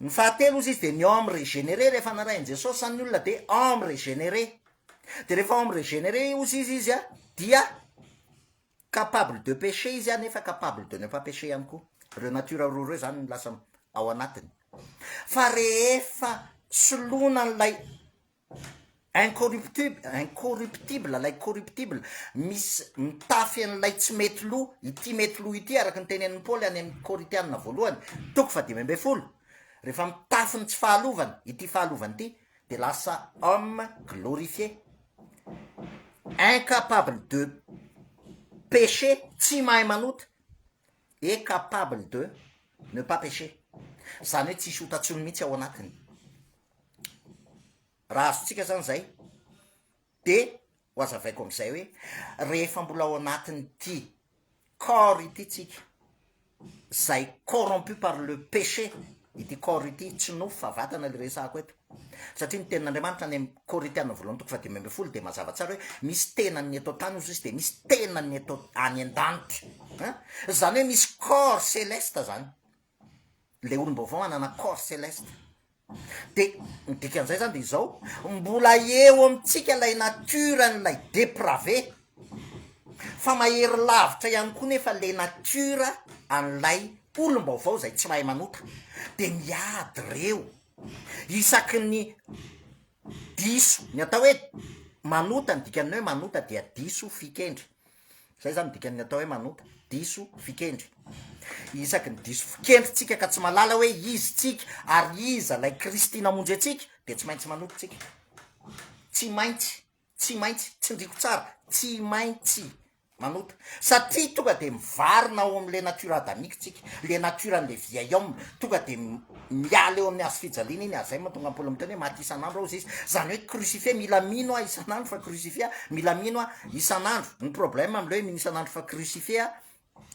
Ny fahatelo ozy izy dia ny homme regenere rehefa narahin'i Jesosy zany ny olona dia homme regenere dia rehefa homme regenere ozy izy izy a dia capable de pecher izy a nefa capable de ne pas pecher ihany koa ireo nature roa ireo zany no lasa ao anatiny fa rehefa soloina an'ilay Incorruptible, incorruptible, lay corruptible, misy mitafy an'ilay tsy mety lo, ity mety lo ity araka ny tenenin'i Paoly any amin'ny Korintianina voalohany, toko fahadimy ambin'ny folo. Rehefa mitafy ny tsy fahalovana, ity fahalovana ity, dia lasa homme glorifié. Incapable de péché, tsy mahay manota, et capable de ne pas péché. Izany hoe tsisy ota tsony mihitsy ao anatiny. raha azontsika zany zay de ho azavaiko am'izay hoe rehefa mbola ao anatin'ity corps ity tsika zay corrompu par le péché ity corps ity tsy nofo fa vatana le resako eto satria ny tenin'andriamanitra any am' corinthiana voalohany toko fadimy amby folo de mazava tsara hoe misy tenan'ny eto tany ozy izy de misy tenan'ny eto any an-danitra an zany hoe misy corps celeste zany ilay olom-baovao hanana corps celeste de ny dikan'izay zany de izao mbola eo amintsika ilay nature an'ilay deprave fa mahery lavitra ihany koa nefa le nature an'ilay olom-baovao izay tsy mahay manota de miady reo isaky ny diso ny atao hoe manota ny dikan'ny hoe manota dia diso fikendry Zay zany dikan'ny atao hoe manota, diso fikendry. Isaky ny diso fikendry tsika ka tsy malala hoe izy tsika ary iza lay Kristy namonjy antsika de tsy maintsy manota tsika. Tsy maintsy, tsy maintsy, tsindriko tsara, tsy maintsy manota. Satria tonga de mivarina ao am'le nature adamique tsika, le nature an'le vieil homme, tonga de. miala eo amin'ny hazofijaliana iny azay mahatonga an'i Paoly miteny hoe maty isan'andro aho hoy izy, izany hoe crucifié, mila mino aho isan'andro fa crucifié aho, mila mino aho isan'andro, ny problème amin'ilay hoe mino isan'andro fa crucifié aho,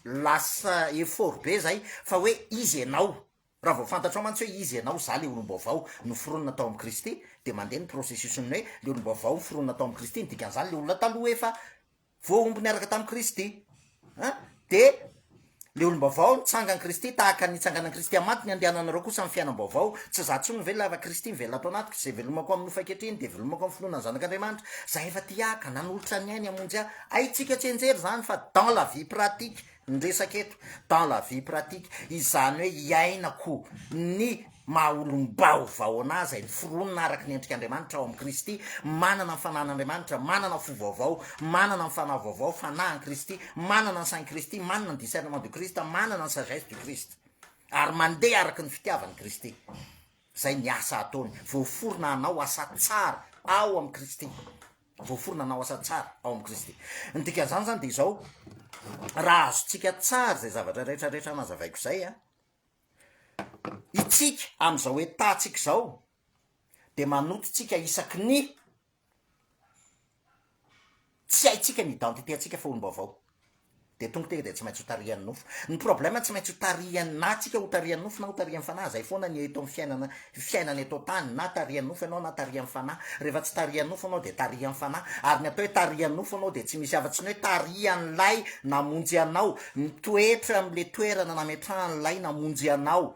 lasa effort be izay fa hoe izy ianao, raha vao fantatrao mantsy hoe izy ianao, za le olom-baovao noforonina tao amin'i Kristy dia mandeha ny processus-n'ny hoe le olom-baovao noforonina tao amin'i Kristy, ny dikan'izany le olona taloha efa. Voahombo niaraka tamin'i Kristy. A. Dia le olom-baovao nitsangan'i Kristy tahaka ny nitsanganan'i Kristy amin'ny maty, ny andehananareo kosa amin'ny fiainam-baovao. Tsy za intsony no velona fa Kristy mivelona ato anatiko. Izay velomako amin'ny nofo ankehitriny dia velomako amin'ny finoana ny Zanak'Andriamanitra. Za efa te hiahy ka nanolotra ny ainy hamonjy ahy. Haintsika tsy hianjera izany fa dans la vie pratique. Ny resaka eto dans la vie pratique, izany hoe hiainako ny maha olom-baovao anà izay noforonina araka ny endrik'Andriamanitra ao amin'i Kristy, manana ny Fanahin'Andriamanitra, manana fo vaovao, manana ny fanahy vaovao, Fanahin'i Kristy, manana ny Sain'i Kristy, manana ny Discernement du Christ, manana ny Sagesse du Christ, ary mandeha araka ny fitiavan'i Kristy. Izay ny asa ataony, voaforona hanao asa tsara ao amin'i Kristy. voaforona hanao asa tsara ao amin'i Kristy. Ny dikan'izany izany dia izao, raha azontsika tsara izay zavatra rehetra rehetra nazavaiko izay, a, itsika amin'izao etantsika izao dia manotontsika isaky ny tsy haintsika ny identité-ntsika fa olom-baovao. Dia tonga teny dia tsy maintsy ho tarihan'ny nofo. Ny problème tsy maintsy ho tarihan'ny na tsika ho tarihan'ny nofo na ho tarihan'ny fanahy. Zay foana ny eto amin'ny fiainana fiainana eto an-tany na tarihan'ny nofo ianao na tarihan'ny fanahy. Rehefa tsy tarihan'ny nofo ianao dia tarihan'ny fanahy. Ary ny atao hoe tarihan'ny nofo ianao dia tsy misy afa-tsy ny hoe tarihan'ilay namonjy anao, mitoetra amin'ilay toerana nametrahan'ilay namonjy anao.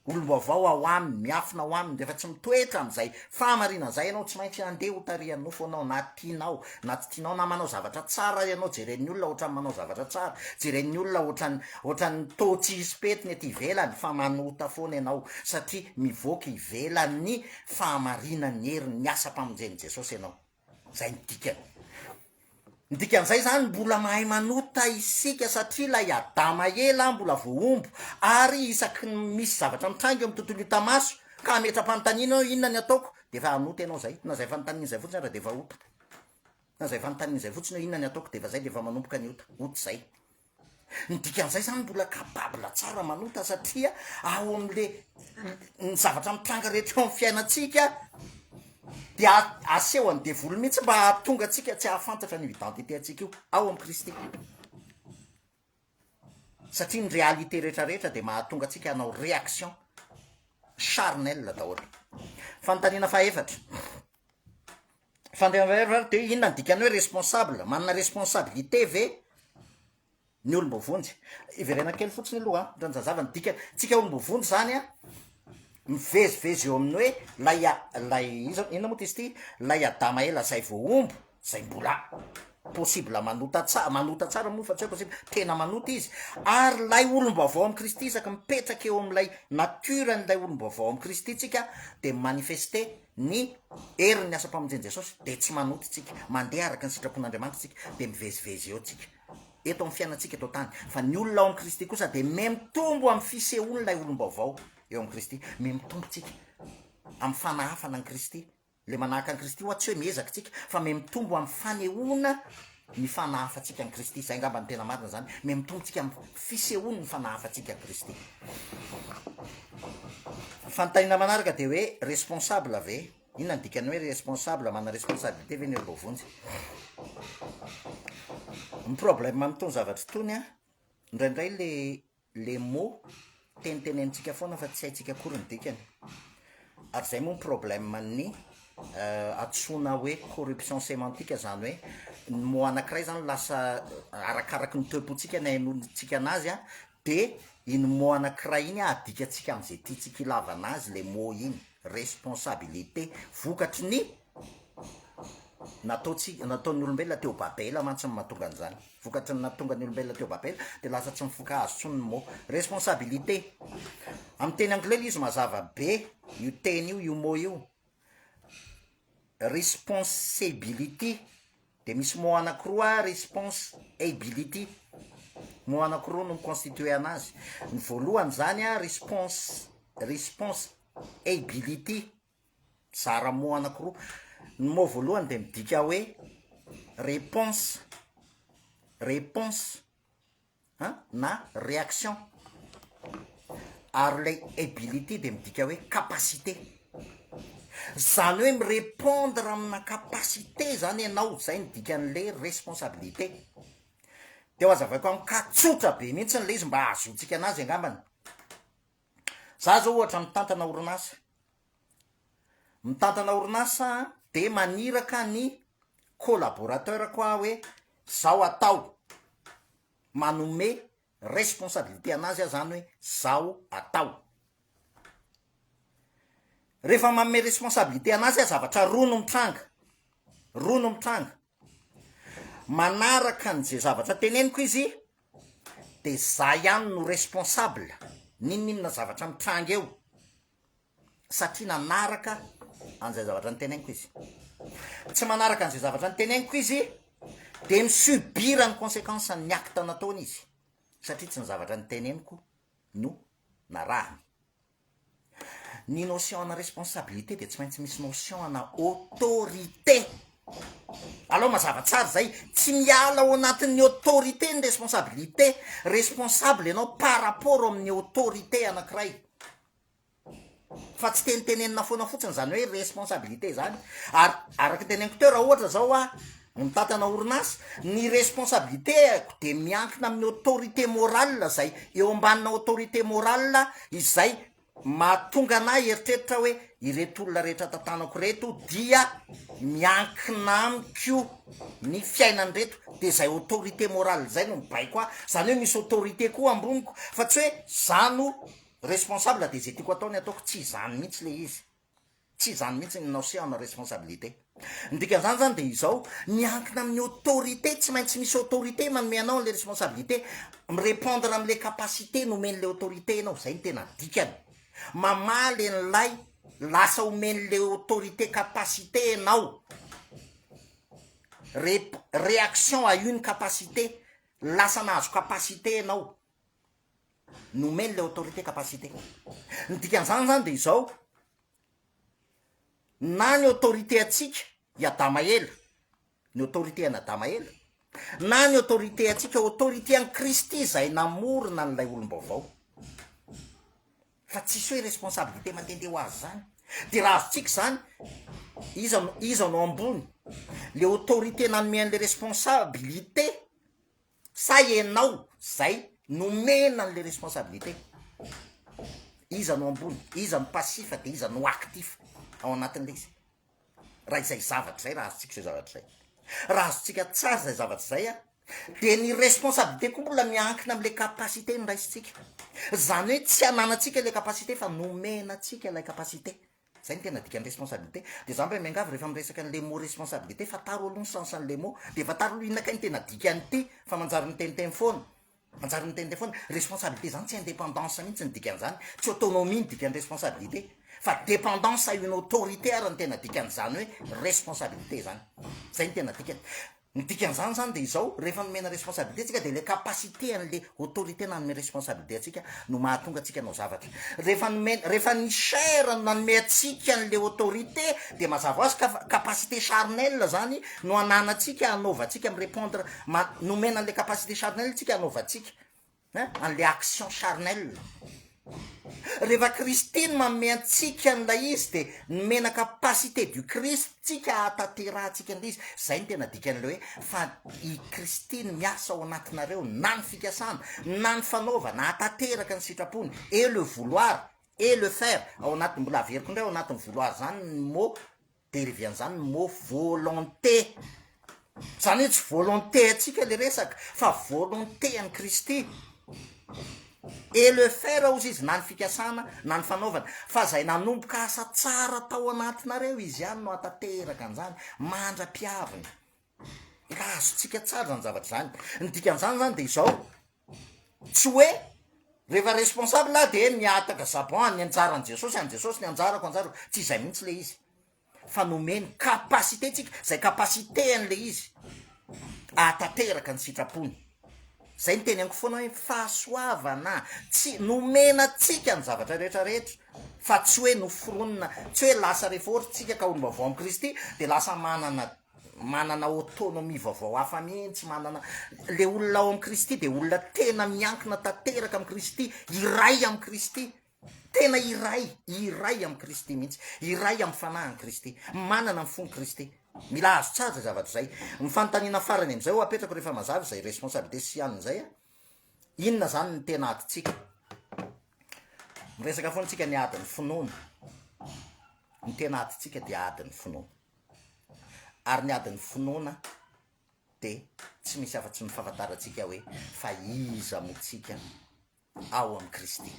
olom-baovao ao aminy, miafina ao aminy, rehefa tsy mitoetra amin'izay fahamarinana izay ianao, tsy maintsy handeha ho tarihan'ny nofo ianao, na tianao na tsy tianao, na manao zavatra tsara ianao, jeren'ny olona ohatran'ny manao zavatra tsara, jeren'ny olona ohatran'ny, ohatran'ny toa tsy hisy pentina ety ivelany, fa manota foana ianao, satria mivoaka ivelan'ny fahamarinan'ny herin'ny asam-pamonjen'i Jesosy ianao. Zay ny dikany. Ny dikan'izay zany mbola mahay manota isika satria ilay Adama ela mbola voahombo ary isaky ny misy zavatra mitranga eo amin'ny tontolo hita maso ka hametra-panontaniana eo inona ny ataoko dia efa hanota ianao zay. Na zay fanontaniana zay fotsiny ary dia efa ota. Na zay fanontaniana zay fotsiny eo inona ny ataoko dia efa zay dia efa manomboka ny ota. Ota zay. Ny dikan'izay zany mbola capable tsara manota satria ao amle ny zavatra mitranga rehetra eo amin'ny fiainantsika dia aseho an'ny devoly mihitsy mba hahatonga antsika tsy hahafantatra an'io identité antsika io ao amin'i Kristy satria ny réalité rehetrarehetra dia mahatonga antsika hanao réaction charnel daholo fanontaniana fahefatra Fandriampahalemana dia inona ny dikany hoe responsable? Manana responsabilité ve ny olom-boavonjy? Hiverena kely fotsiny aloha an, mba hanazava ny dikany, tsika olom-boavonjy zany an, mivezivezy eo amin'ny hoe lay a- lay iza- inona moa ty izy ity, lay Adama ela zay vao omby zay mbola possible manota tsa- manota tsara moa fa tsy hoe possible, tena manota izy, ary lay olom-baovao amin'i Kristy isaky mipetraka eo amin'ilay nature-n'ilay olom-baovao amin'i Kristy tsika dia mi-manifester Ny herin'ny asam-pamonjen'i Jesosy dia tsy manota isika, mandeha araka ny sitrapon'Andriamanitra isika, dia mivezivezy eo isika, eto amin'ny fiainantsika eto an-tany, fa ny olona ao amin'i Kristy kosa dia mihamitombo amin'ny fisehoan'ilay olom-baovao eo amin'i Kristy, mihamitombo isika amin'ny fanahafana an'i Kristy, ilay manahaka an'i Kristy ho'a tsy hoe miezaka isika, fa mihamitombo amin'ny fanehoana ny fa nahafatsika an'i Kristy. Izay angamba no tena marina izany, miha-mitombo tsika amin'ny fisehoan'ny fa nahafatsika an'i Kristy. Fanontaniana manaraka dia hoe responsable ve? Inona ny dikan'ny hoe responsable, manana responsabilité ve ny eo voavonjy? Ny problème amin'itony zavatra itony an, indraindray le Les mots, tenitenenintsika foana fa tsy haintsika akory ny dikany. Ary izay moa ny problème ny antsoina hoe corruption sémantique izany hoe ny mot anankiray izany lasa arakaraky ny toe-pontsika ny hainoantsika anazy a, dia iny mot anankiray iny adikantsika amin'izay tiantsika hilavana azy ilay mot iny, responsabilité, vokatry ny Nataontsika, nataon'ny olombelona teo Babela mantsy ny mahatonga an'izany. Vokatry ny nahatongan'ny olombelona teo Babela dia lasa tsy mifoka hazo intsony ny mot responsabilité. Amin'ny teny anglais ilay izy mazava be io teny io, io mot io, responsibility, dia misy mot anankiroa responsibility, mot anankiroa no mi-constituer an'azy. Ny voalohany izany response, responsibility. Mizara mots anankiroa. Ny mot voalohany dia midika hoe réponse, réponse an, na réaction, ary ilay ability dia midika hoe capacité, izany hoe mi-repondre amina capacité izany ianao, izay no dikan'ilay responsabilité. Dia ho azavaiko amiko ka tsotra be mihitsy ilay izy mba hahazoantsika an'azy angambany. Za zao ohatra mitantana orinasa, mitantana orinasa dia maniraka ny collaborateur-ko aho hoe zao atao, manome responsabilité anazy aho zany hoe zao atao. Rehefa manome responsabilité anazy aho zavatra roa no mitranga, roa no mitranga, Manaraka an ze zavatra teneniko izy de za ihany no responsable ninoninona zavatra mitranga eo satria nanaraka an'izay zavatra niteneniko izy, tsy manaraka an'izay zavatra niteneniko izy de mi subir ny consequence ny acte nataony izy satria tsy ny zavatra niteneniko no narahany. Ny notion ana responsabilité dia tsy maintsy misy notion ana autorité. Alao mazava tsara zay, tsy miala ao anatin'ny autorité ny responsabilité, responsable ianao par rapport amin'ny autorité anakiray, fa tsy tenitenenina foana fotsiny zany hoe responsabilité zany, ary araky ny teneniko teo raha ohatra zao hoa, Mitantana orinasa, ny responsabilité-ko dia miankina amin'ny autorité morale izay eo ambanina autorité morale izay mahatonga anah hieritreritra hoe ireto olona rehetra tantanako ireto dia miankina amiko ny fiainan'ireto dia izay autorité morale izay no mibaiko ahy, izany hoe misy autorité koa amboniko fa tsy hoe za no responsable dia izay tiako atao ny ataoko, tsy izany mihitsy le izy. Tsy izany mihitsy ny notion ny responsabilité. Ny dikan'izany izany dia izao, miankina amin'ny autorité, tsy maintsy misy autorité manome anao an'ilay responsabilité, mi-repondre amin'ilay capacité nomen'ilay autorité ianao, izay no tena dikany. Mamaly an'ilay lasa omen'ilay autorité capacité ianao, rep, réaction à une capacité, lasa nahazo capacité ianao. Nomeny ilay autorité capacité. Ny dikan'izany izany dia izao, na ny autorité antsika i Adama ela, ny autorité an'i Adama ela, na ny autorité antsika autorité an'i Kristy izay namorona an'ilay olom-baovao. Fa tsisy hoe responsabilité mandehandeha ho azy izany. Dia raha azontsika izany, iza no, iza no ambony? Le autorité nanome an'ilay responsabilité sa enao zay nomena anle responsabilité iza no ambony iza no passifa de iza no actif ao anatinle izy raha izay zavatra zay raha azotsika zay zavatra zay raha azotsika tsara zay zavatra zay a de ny responsabilité koa mbola miankina amle capacité niraisintsika zany hoe tsy ananatsika le capacité fa nomena atsika lay capacité Zay no tena dikan'ny responsabilité. Dia za mba miangavy rehefa miresaka ny le mot responsabilité fataro aloha ny sens an'le mot. Dia fataro aloha inona kay ny tena dikan'ity fa manjary miteniteny foana. Manjary miteniteny foana. Responsabilité zany tsy indépendance mihitsy ny dikan'izany. Tsy autonomie ny dikan'ny responsabilité fa dépendance à une autorité ary no tena dikan'izany hoe responsabilité zany. Zay no tena dikany. Ny dikan'izany izany dia izao, rehefa nomena responsabilité antsika dia ilay capacité an'ilay autorité nanome responsabilité antsika no mahatonga antsika hanao zavatra. Rehefa nomena, rehefa ny chair no nanome antsika an'ilay autorité dia mazava ho azy ka fa capacité charnelle izany no ananantsika hanaovantsika mi-repondre, ma- nomena an'ilay capacité charnelle antsika hanaovantsika. Hein? An'ilay action charnelle. Rehefa Kristy no manome antsika an'ilay izy dia ny mena capacité du Christ tsika hahatanterahantsika an'ilay izy. Izay no tena dikan'ilay hoe fa i Kristy no miasa ao anatinareo na ny fikasana na ny fanaovana hahatanteraka ny sitrapony et le vouloir et le faire ao anatin'ny mbola averiko indray ao anatin'ny vouloir izany ny mot Derivian'izany ny mot volonté. Izany hoe tsy volonté antsika ilay resaka fa volonté an'i Kristy. Et le faire hozy izy na ny fikasana na ny fanaovana. Fa izay nanomboka asa tsara tao anatinareo izy ihany no hatateraka an'izany mandra-piaviny. Ka azontsika tsara izany zavatra izany. Ny dikan'izany izany dia izao, tsy hoe rehefa responsable aho de mihataka jabon any anjaran'i jesosy any jesosy ny anjarako anjarako tsy izay mihitsy le izy fa nomeny capacité tsika zay capacité an'le izy ahatanteraka ny sitrapony zay ny teny aniko foana hoe fahasoavana tsy nomena tsika ny zavatra rehetra rehetra fa tsy hoe noforonina tsy hoe lasa rehefa ohatra tsika ka olom-baovao amin'i kristy de lasa manana Manana autonomie vaovao hafa mihitsy, manana. Ilay olona ao amin'i Kristy dia olona tena miankina tanteraka amin'i Kristy, iray amin'i Kristy. Tena iray, iray amin'i Kristy mihitsy, iray amin'ny fanahin'i Kristy, manana ny fon'i Kristy. Mila azo tsara izay zavatra izay. Ny fanontaniana farany amin'izay ho apetrako rehefa mazava izay responsabilité sy an'izay, inona izany ny tena adintsika? Miresaka foana isika ny adin'ny finoana. Ny tena adintsika dia adin'ny finoana. ary ny adin'ny finoana dia tsy misy afa-tsy ny fahafantarantsika hoe fa iza moa tsika ao amin'i Kristy,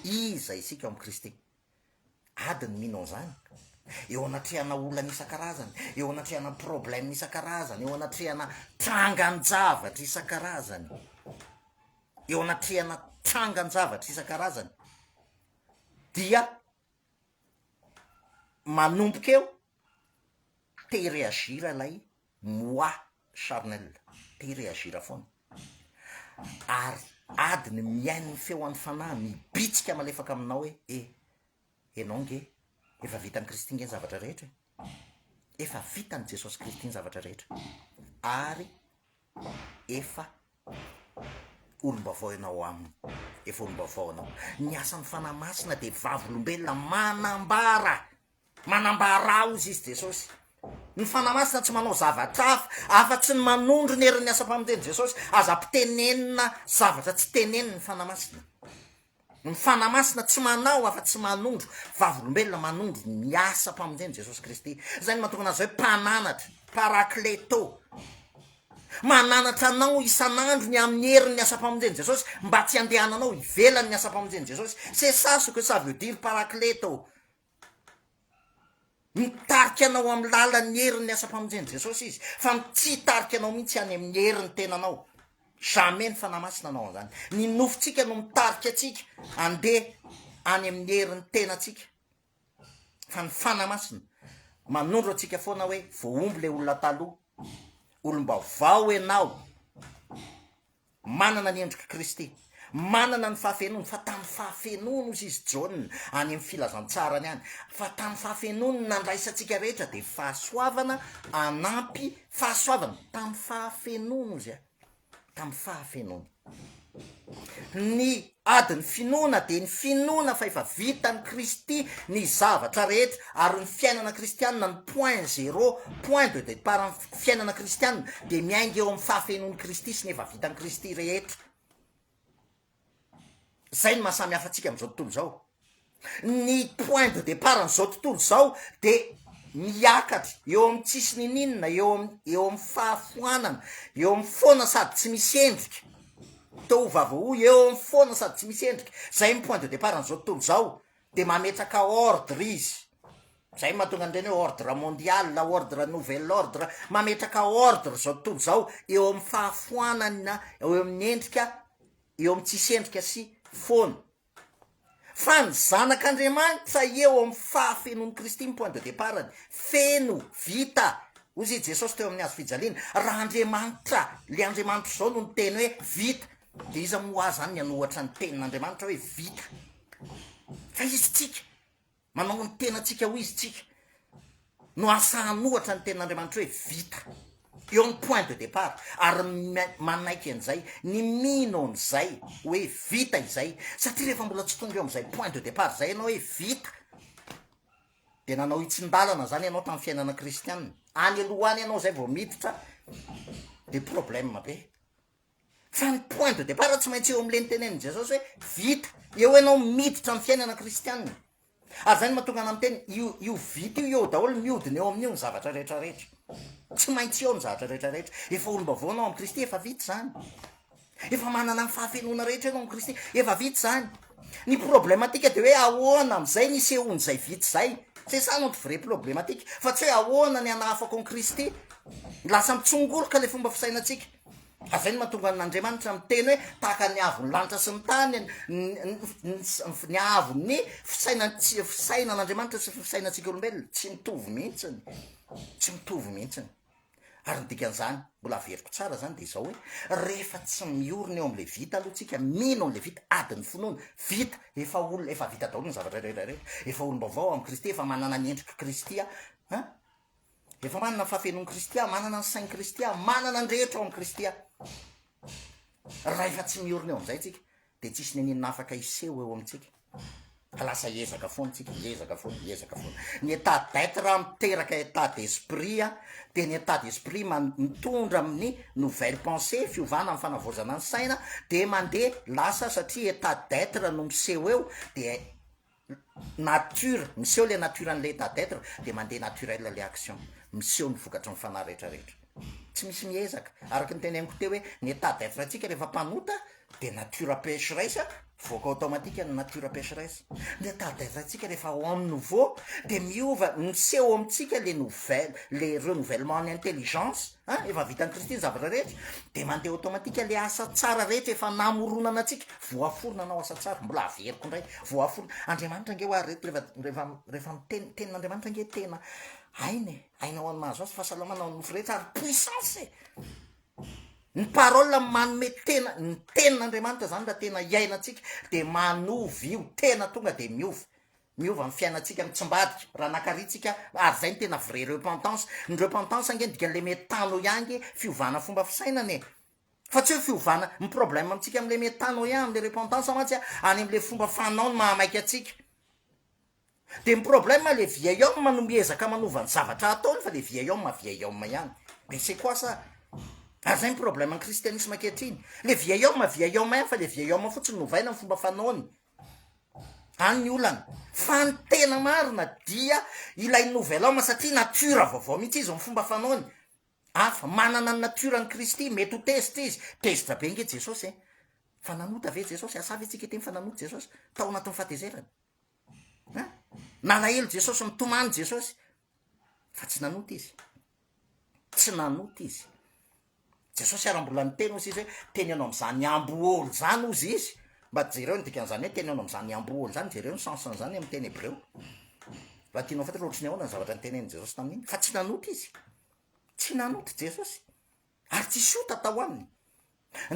iza isika ao amin'i Kristy, ady ny mino an'izany, eo anatrehana olana isan-karazany, eo anatrehana problème isan-karazany, eo anatrehana trangan-javatra isan-karazany, eo anatrehana trangan-javatra isan-karazany dia. manomboka eo te hi-reagir ilay moi charnel, te hi-reagir foana, ary adiny mihaino ny feon'ny fanahy mibitsika malefaka aminao hoe e, ianao nge efa vitan'i Kristy nge ny zavatra rehetra e, efa vitan'i Jesosy Kristy ny zavatra rehetra, ary efa olom-baovao ianao aminy, efa olom-baovao ianao. Ny asan'ny Fanahy Masina dia vavolombelona manambara, manambara hozy izy Jesosy. Ny Fanahy Masina tsy manao zavatra hafa, afa-tsy ny manondro ny herin'ny asam-pamonjen'i Jesosy. Aza mpitenenina zavatra tsy tenenin'ny Fanahy Masina. Ny Fanahy Masina tsy manao afa tsy manondro vavolombelona manondro ny asam-pamonjen'i Jesosy Kristy. Izay no mahatonga an'azy hoe mpananatra, parakleto. Mananatra anao isan'andro ny amin'ny herin'ny asam-pamonjen'i Jesosy mba tsy handehananao ivelan'ny asam-pamonjen'i Jesosy. C'est ça ce que ça veut dire parakleto. Mitarika anao amin'ny lalan'ny herin'ny asam-pamonjen'i Jesosy Izy, fa tsy hitarika anao mihitsy any amin'ny herin'ny tenanao. Jamais ny Fanahy Masina hanao an'izany. Ny nofontsika no mitarika antsika handeha any amin'ny herin'ny tenantsika. Fa ny Fanahy Masina manondro antsika foana hoe voahombo ilay olona taloha, olom-baovao ianao. Manana ny endrik'i Kristy. Manana ny fahafenoany, fa tamin'ny fahafenoany, hozy izy, Jaona, any amin'ny filazantsarany any, fa tamin'ny fahafenoany ny nandraisantsika rehetra, dia fahasoavana hanampy fahasoavana, tamin'ny fahafenoany, hozy aho, tamin'ny fahafenoany. Ny Ady ny finoana dia ny finoana fa efa vitan'i Kristy ny zavatra rehetra ary ny fiainana kristianina no point zero, point de départ ny fiainana kristianina dia miainga eo amin'ny fahafenoan'i Kristy sy ny efa vitan'i Kristy rehetra. Izay no maha samy hafa antsika amin'izao tontolo izao. Ny point de départ an'izao tontolo izao dia miakatra eo amin'ny tsisy niniana, eo am- eo amin'ny fahafoanana, eo amin'ny foana sady tsy misy endrika, toa ho vavahoy, eo amin'ny foana sady tsy misy endrika, zay ny point de départ an'izao tontolo izao, dia mametraka ordre izy, zay no mahatonga an'ireny hoe ordre mondial, ordre nouvel ordre, mametraka ordre izao tontolo izao eo amin'ny fahafoanana, eo amin'ny endrika, eo amin'ny tsisy endrika sy foana. Fa ny Zanak'Andriamanitra eo amin'ny fahafenoan'i Kristy ny point de départ-ny. Feno, vita, hozy i Jesosy teo amin'ny hazo fijaliana. Raha Andriamanitra, le Andriamanitra izao no niteny hoe vita, de iza moa azany ny hanohatra ny tenin'Andriamanitra hoe vita? Fa izy tsika. Manao ny tenantsika ho izy isika no ahafahan'ny ohatra ny tenin'Andriamanitra hoe vita. Eo amin'ny point de départ ary manaiky an'izay ny mino an'izay hoe vita izay satria rehefa mbola tsy tonga eo amin'izay point de départ izay ianao hoe vita dia nanao hitsin-dalana izany ianao tamin'ny fiainana kristianina. Any aloha any ianao izay vao miditra dia problème be. Fa ny point de départ tsy maintsy eo amin'ilay nitenenin'i Jesosy hoe vita, eo ianao miditra amin'ny fiainana kristianina. Ary izay no mahatonga anà miteny io io vita io eo daholo, mihodina eo amin'io ny zavatra rehetra rehetra. Tsy maintsy eo ny zavatra rehetra rehetra. Efa olom-baovao ianao amin'i Kristy, efa vita izany. Efa manana ny fahafenoana rehetra ianao amin'i Kristy, efa vita izany. Ny problematika dia hoe ahoana amin'izay ny isehoan'izay vita izay. C'est ça notre vraie problematika. Fa tsy hoe ahoana ny hanahafako an'i Kristy. Lasa mitsongoloka ilay fomba fisainantsika. Fa izay no mahatonga an' Andriamanitra miteny hoe tahaka ny haavon'ny lanitra sy ny tany ny haavon'ny fisainan' Andriamanitra sy ny fisainantsika olombelona. Tsy mitovy mihitsiny, tsy mitovy mihitsiny. Ary ny dikan'izany, mbola averiko tsara izany dia izao hoe, rehefa tsy miorina eo amin'ilay vita aloha tsika, mino an'ilay vita, ady ny finoana, vita, efa olona, efa vita daholo ny zavatra rehetra rehetra, efa olom-baovao amin'i Kristy, efa manana ny endrik'i Kristy aho, an? Efa manana ny fahafenoan'i Kristy aho, manana ny sain'i Kristy aho, manana ny rehetra ao amin'i Kristy aho. Rahefa tsy miorina eo amin'izay tsika, dia tsisy nenenina afaka hiseho eo amintsika. Fa lasa hiezaka foana tsika, hiezaka foana, hiezaka foana. Ny état d'être miteraka état d'esprit, dia ny état d'esprit man- mitondra amin'ny nouvelle pensée, fiovana amin'ny fanavaozana ny saina, dia mandeha lasa satria état d'être no miseho eo, dia nature, miseho ilay nature an'ilay état d'être dia mandeha naturel ilay action, miseho ny vokatry ny fanahy rehetra rehetra. Tsy misy miezaka, araka ny teneniko teo hoe ny état d'être antsika rehefa mpanota dia nature pécheresse mivoaka automatique ny nature pécheresse, ny état d'être antsika rehefa homme nouveau dia miova, miseho amintsika le nouvelle, le renouvellement ny intelligence, An, efa vitan'i Kristy ny zavatra rehetra, dia mandeha automatique le asa tsara rehetra efa namoronana antsika, voaforona anao asa tsara, mbola averiko indray, voaforona, Andriamanitra ange hoa reto rehefa, rehefa, rehefa miteny, ny tenin'Andriamanitra ange tena aina e, aina ho an'ny mahazo azy, fahasalamana ho an'ny nofo rehetra, ary puissance e, ny parole manome tena, ny tenin'Andriamanitra zany raha tena iainantsika dia manovy io tena tonga dia miova, Miova ny fiainantsika mitsimbadika raha nakaritsika ary izay no tena vrai repentance. Ny repentance ange ny dikany le metanoia ange fiovana fomba fisainana e. Fa tsy hoe fiovana, ny problème amintsika amle metanoia amle repentance mantsy a any amle fomba fanao no mahamaika antsika. De ny problème le vieil homme no miezaka manova ny zavatra ataony fa le vieil homme vieil homme ihany. Mais c'est quoi ça? Ary zay ny problème ny christianisme ankehitriny. Le vieil homme vieil homme ihany fa le vieil homme fotsiny no ovaina ny fomba fanaony. any ny olana fa ny tena marina dia ilay nouvel homme satria nature vaovao mihitsy izy ny fomba fanaony hafa manana ny nature ny kristy mety ho tezitra izy tezitra be nge jesosy e fa nanota ve jesosy asa ve tsika eteny fa nanota jesosy tao anatin'ny fahatezerany a nalahelo jesosy nitomany jesosy fa tsy nanota izy tsy nanota izy jesosy ara mbola ny teny ozy izy hoe teny anao am'izany amboholo zany ozy izy mba jereo ny dikan'izany hoe teny anao am'izany amboholo zany jereo ny sensen'izany ami'ny teny hebreo raha tianao fatra loatry ny ahoana ny zavatra ny tenen'i jesosy tamin'iny fa tsy nanota izy tsy nanota jesosy ary tsy sota tao aminy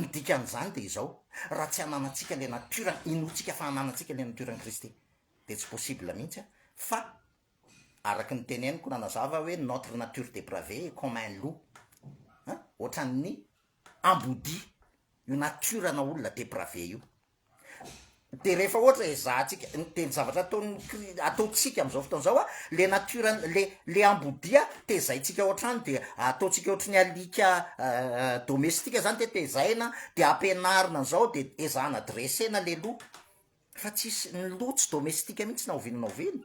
ny dikan'izany de izao raha tsy hananantsika le natiora inoantsika fa hananantsika le natiora ny kristy de tsy possible mihitsy a fa Araky ny teneniko nanazava hoe notre nature depravee est comme un loup an! Ohatran'ny ambodia io nature ana olona depravee io. Dia rehefa ohatra ezahantsika, dia ny zavatra ataon'ny kri, ataontsika amin'izao fotoana izao an, le nature an, le le ambodia tezaintsika ao an-trano dia ataontsika ohatry ny alika domestika zany dia tezaina dia ampianarina an'izao dia ezahana dresser-na le loup. Fa tsisy, ny loha tsy domestika mihitsy na oviana na oviana,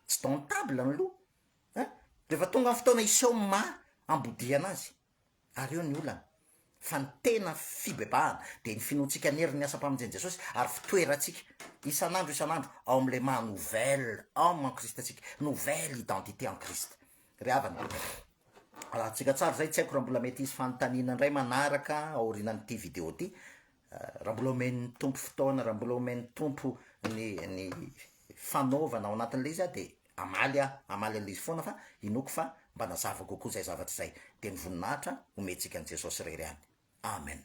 tsy domptable ny loha ein! Rehefa tonga ny fotoana hiseho ny maha ambodihana azy, ary eo ny olana. Fa ny tena fibebahana dia ny finoantsika ny herin'ny asam-pamonjen'i Jesosy ary fitoerantsika isan'andro isan'andro ao amin'ilay maha nouvelle homme en Christ antsika, nouvelle identité en Christ. Ry havana, alatsika tsara izay, tsy haiko raha mbola mety hisy fanontaniana indray manaraka aorianan'ity video ity, Raha mbola omen'ny Tompo fotoana, raha mbola omen'ny Tompo ny ny fanaovana ao anatin'ilay izy aho dia hamaly aho, hamaly an'ilay izy foana fa inoako fa mba nazava kokoa izay zavatra izay. Dia ny voninahitra omentsika an'i Jesosy irery ihany. Amen.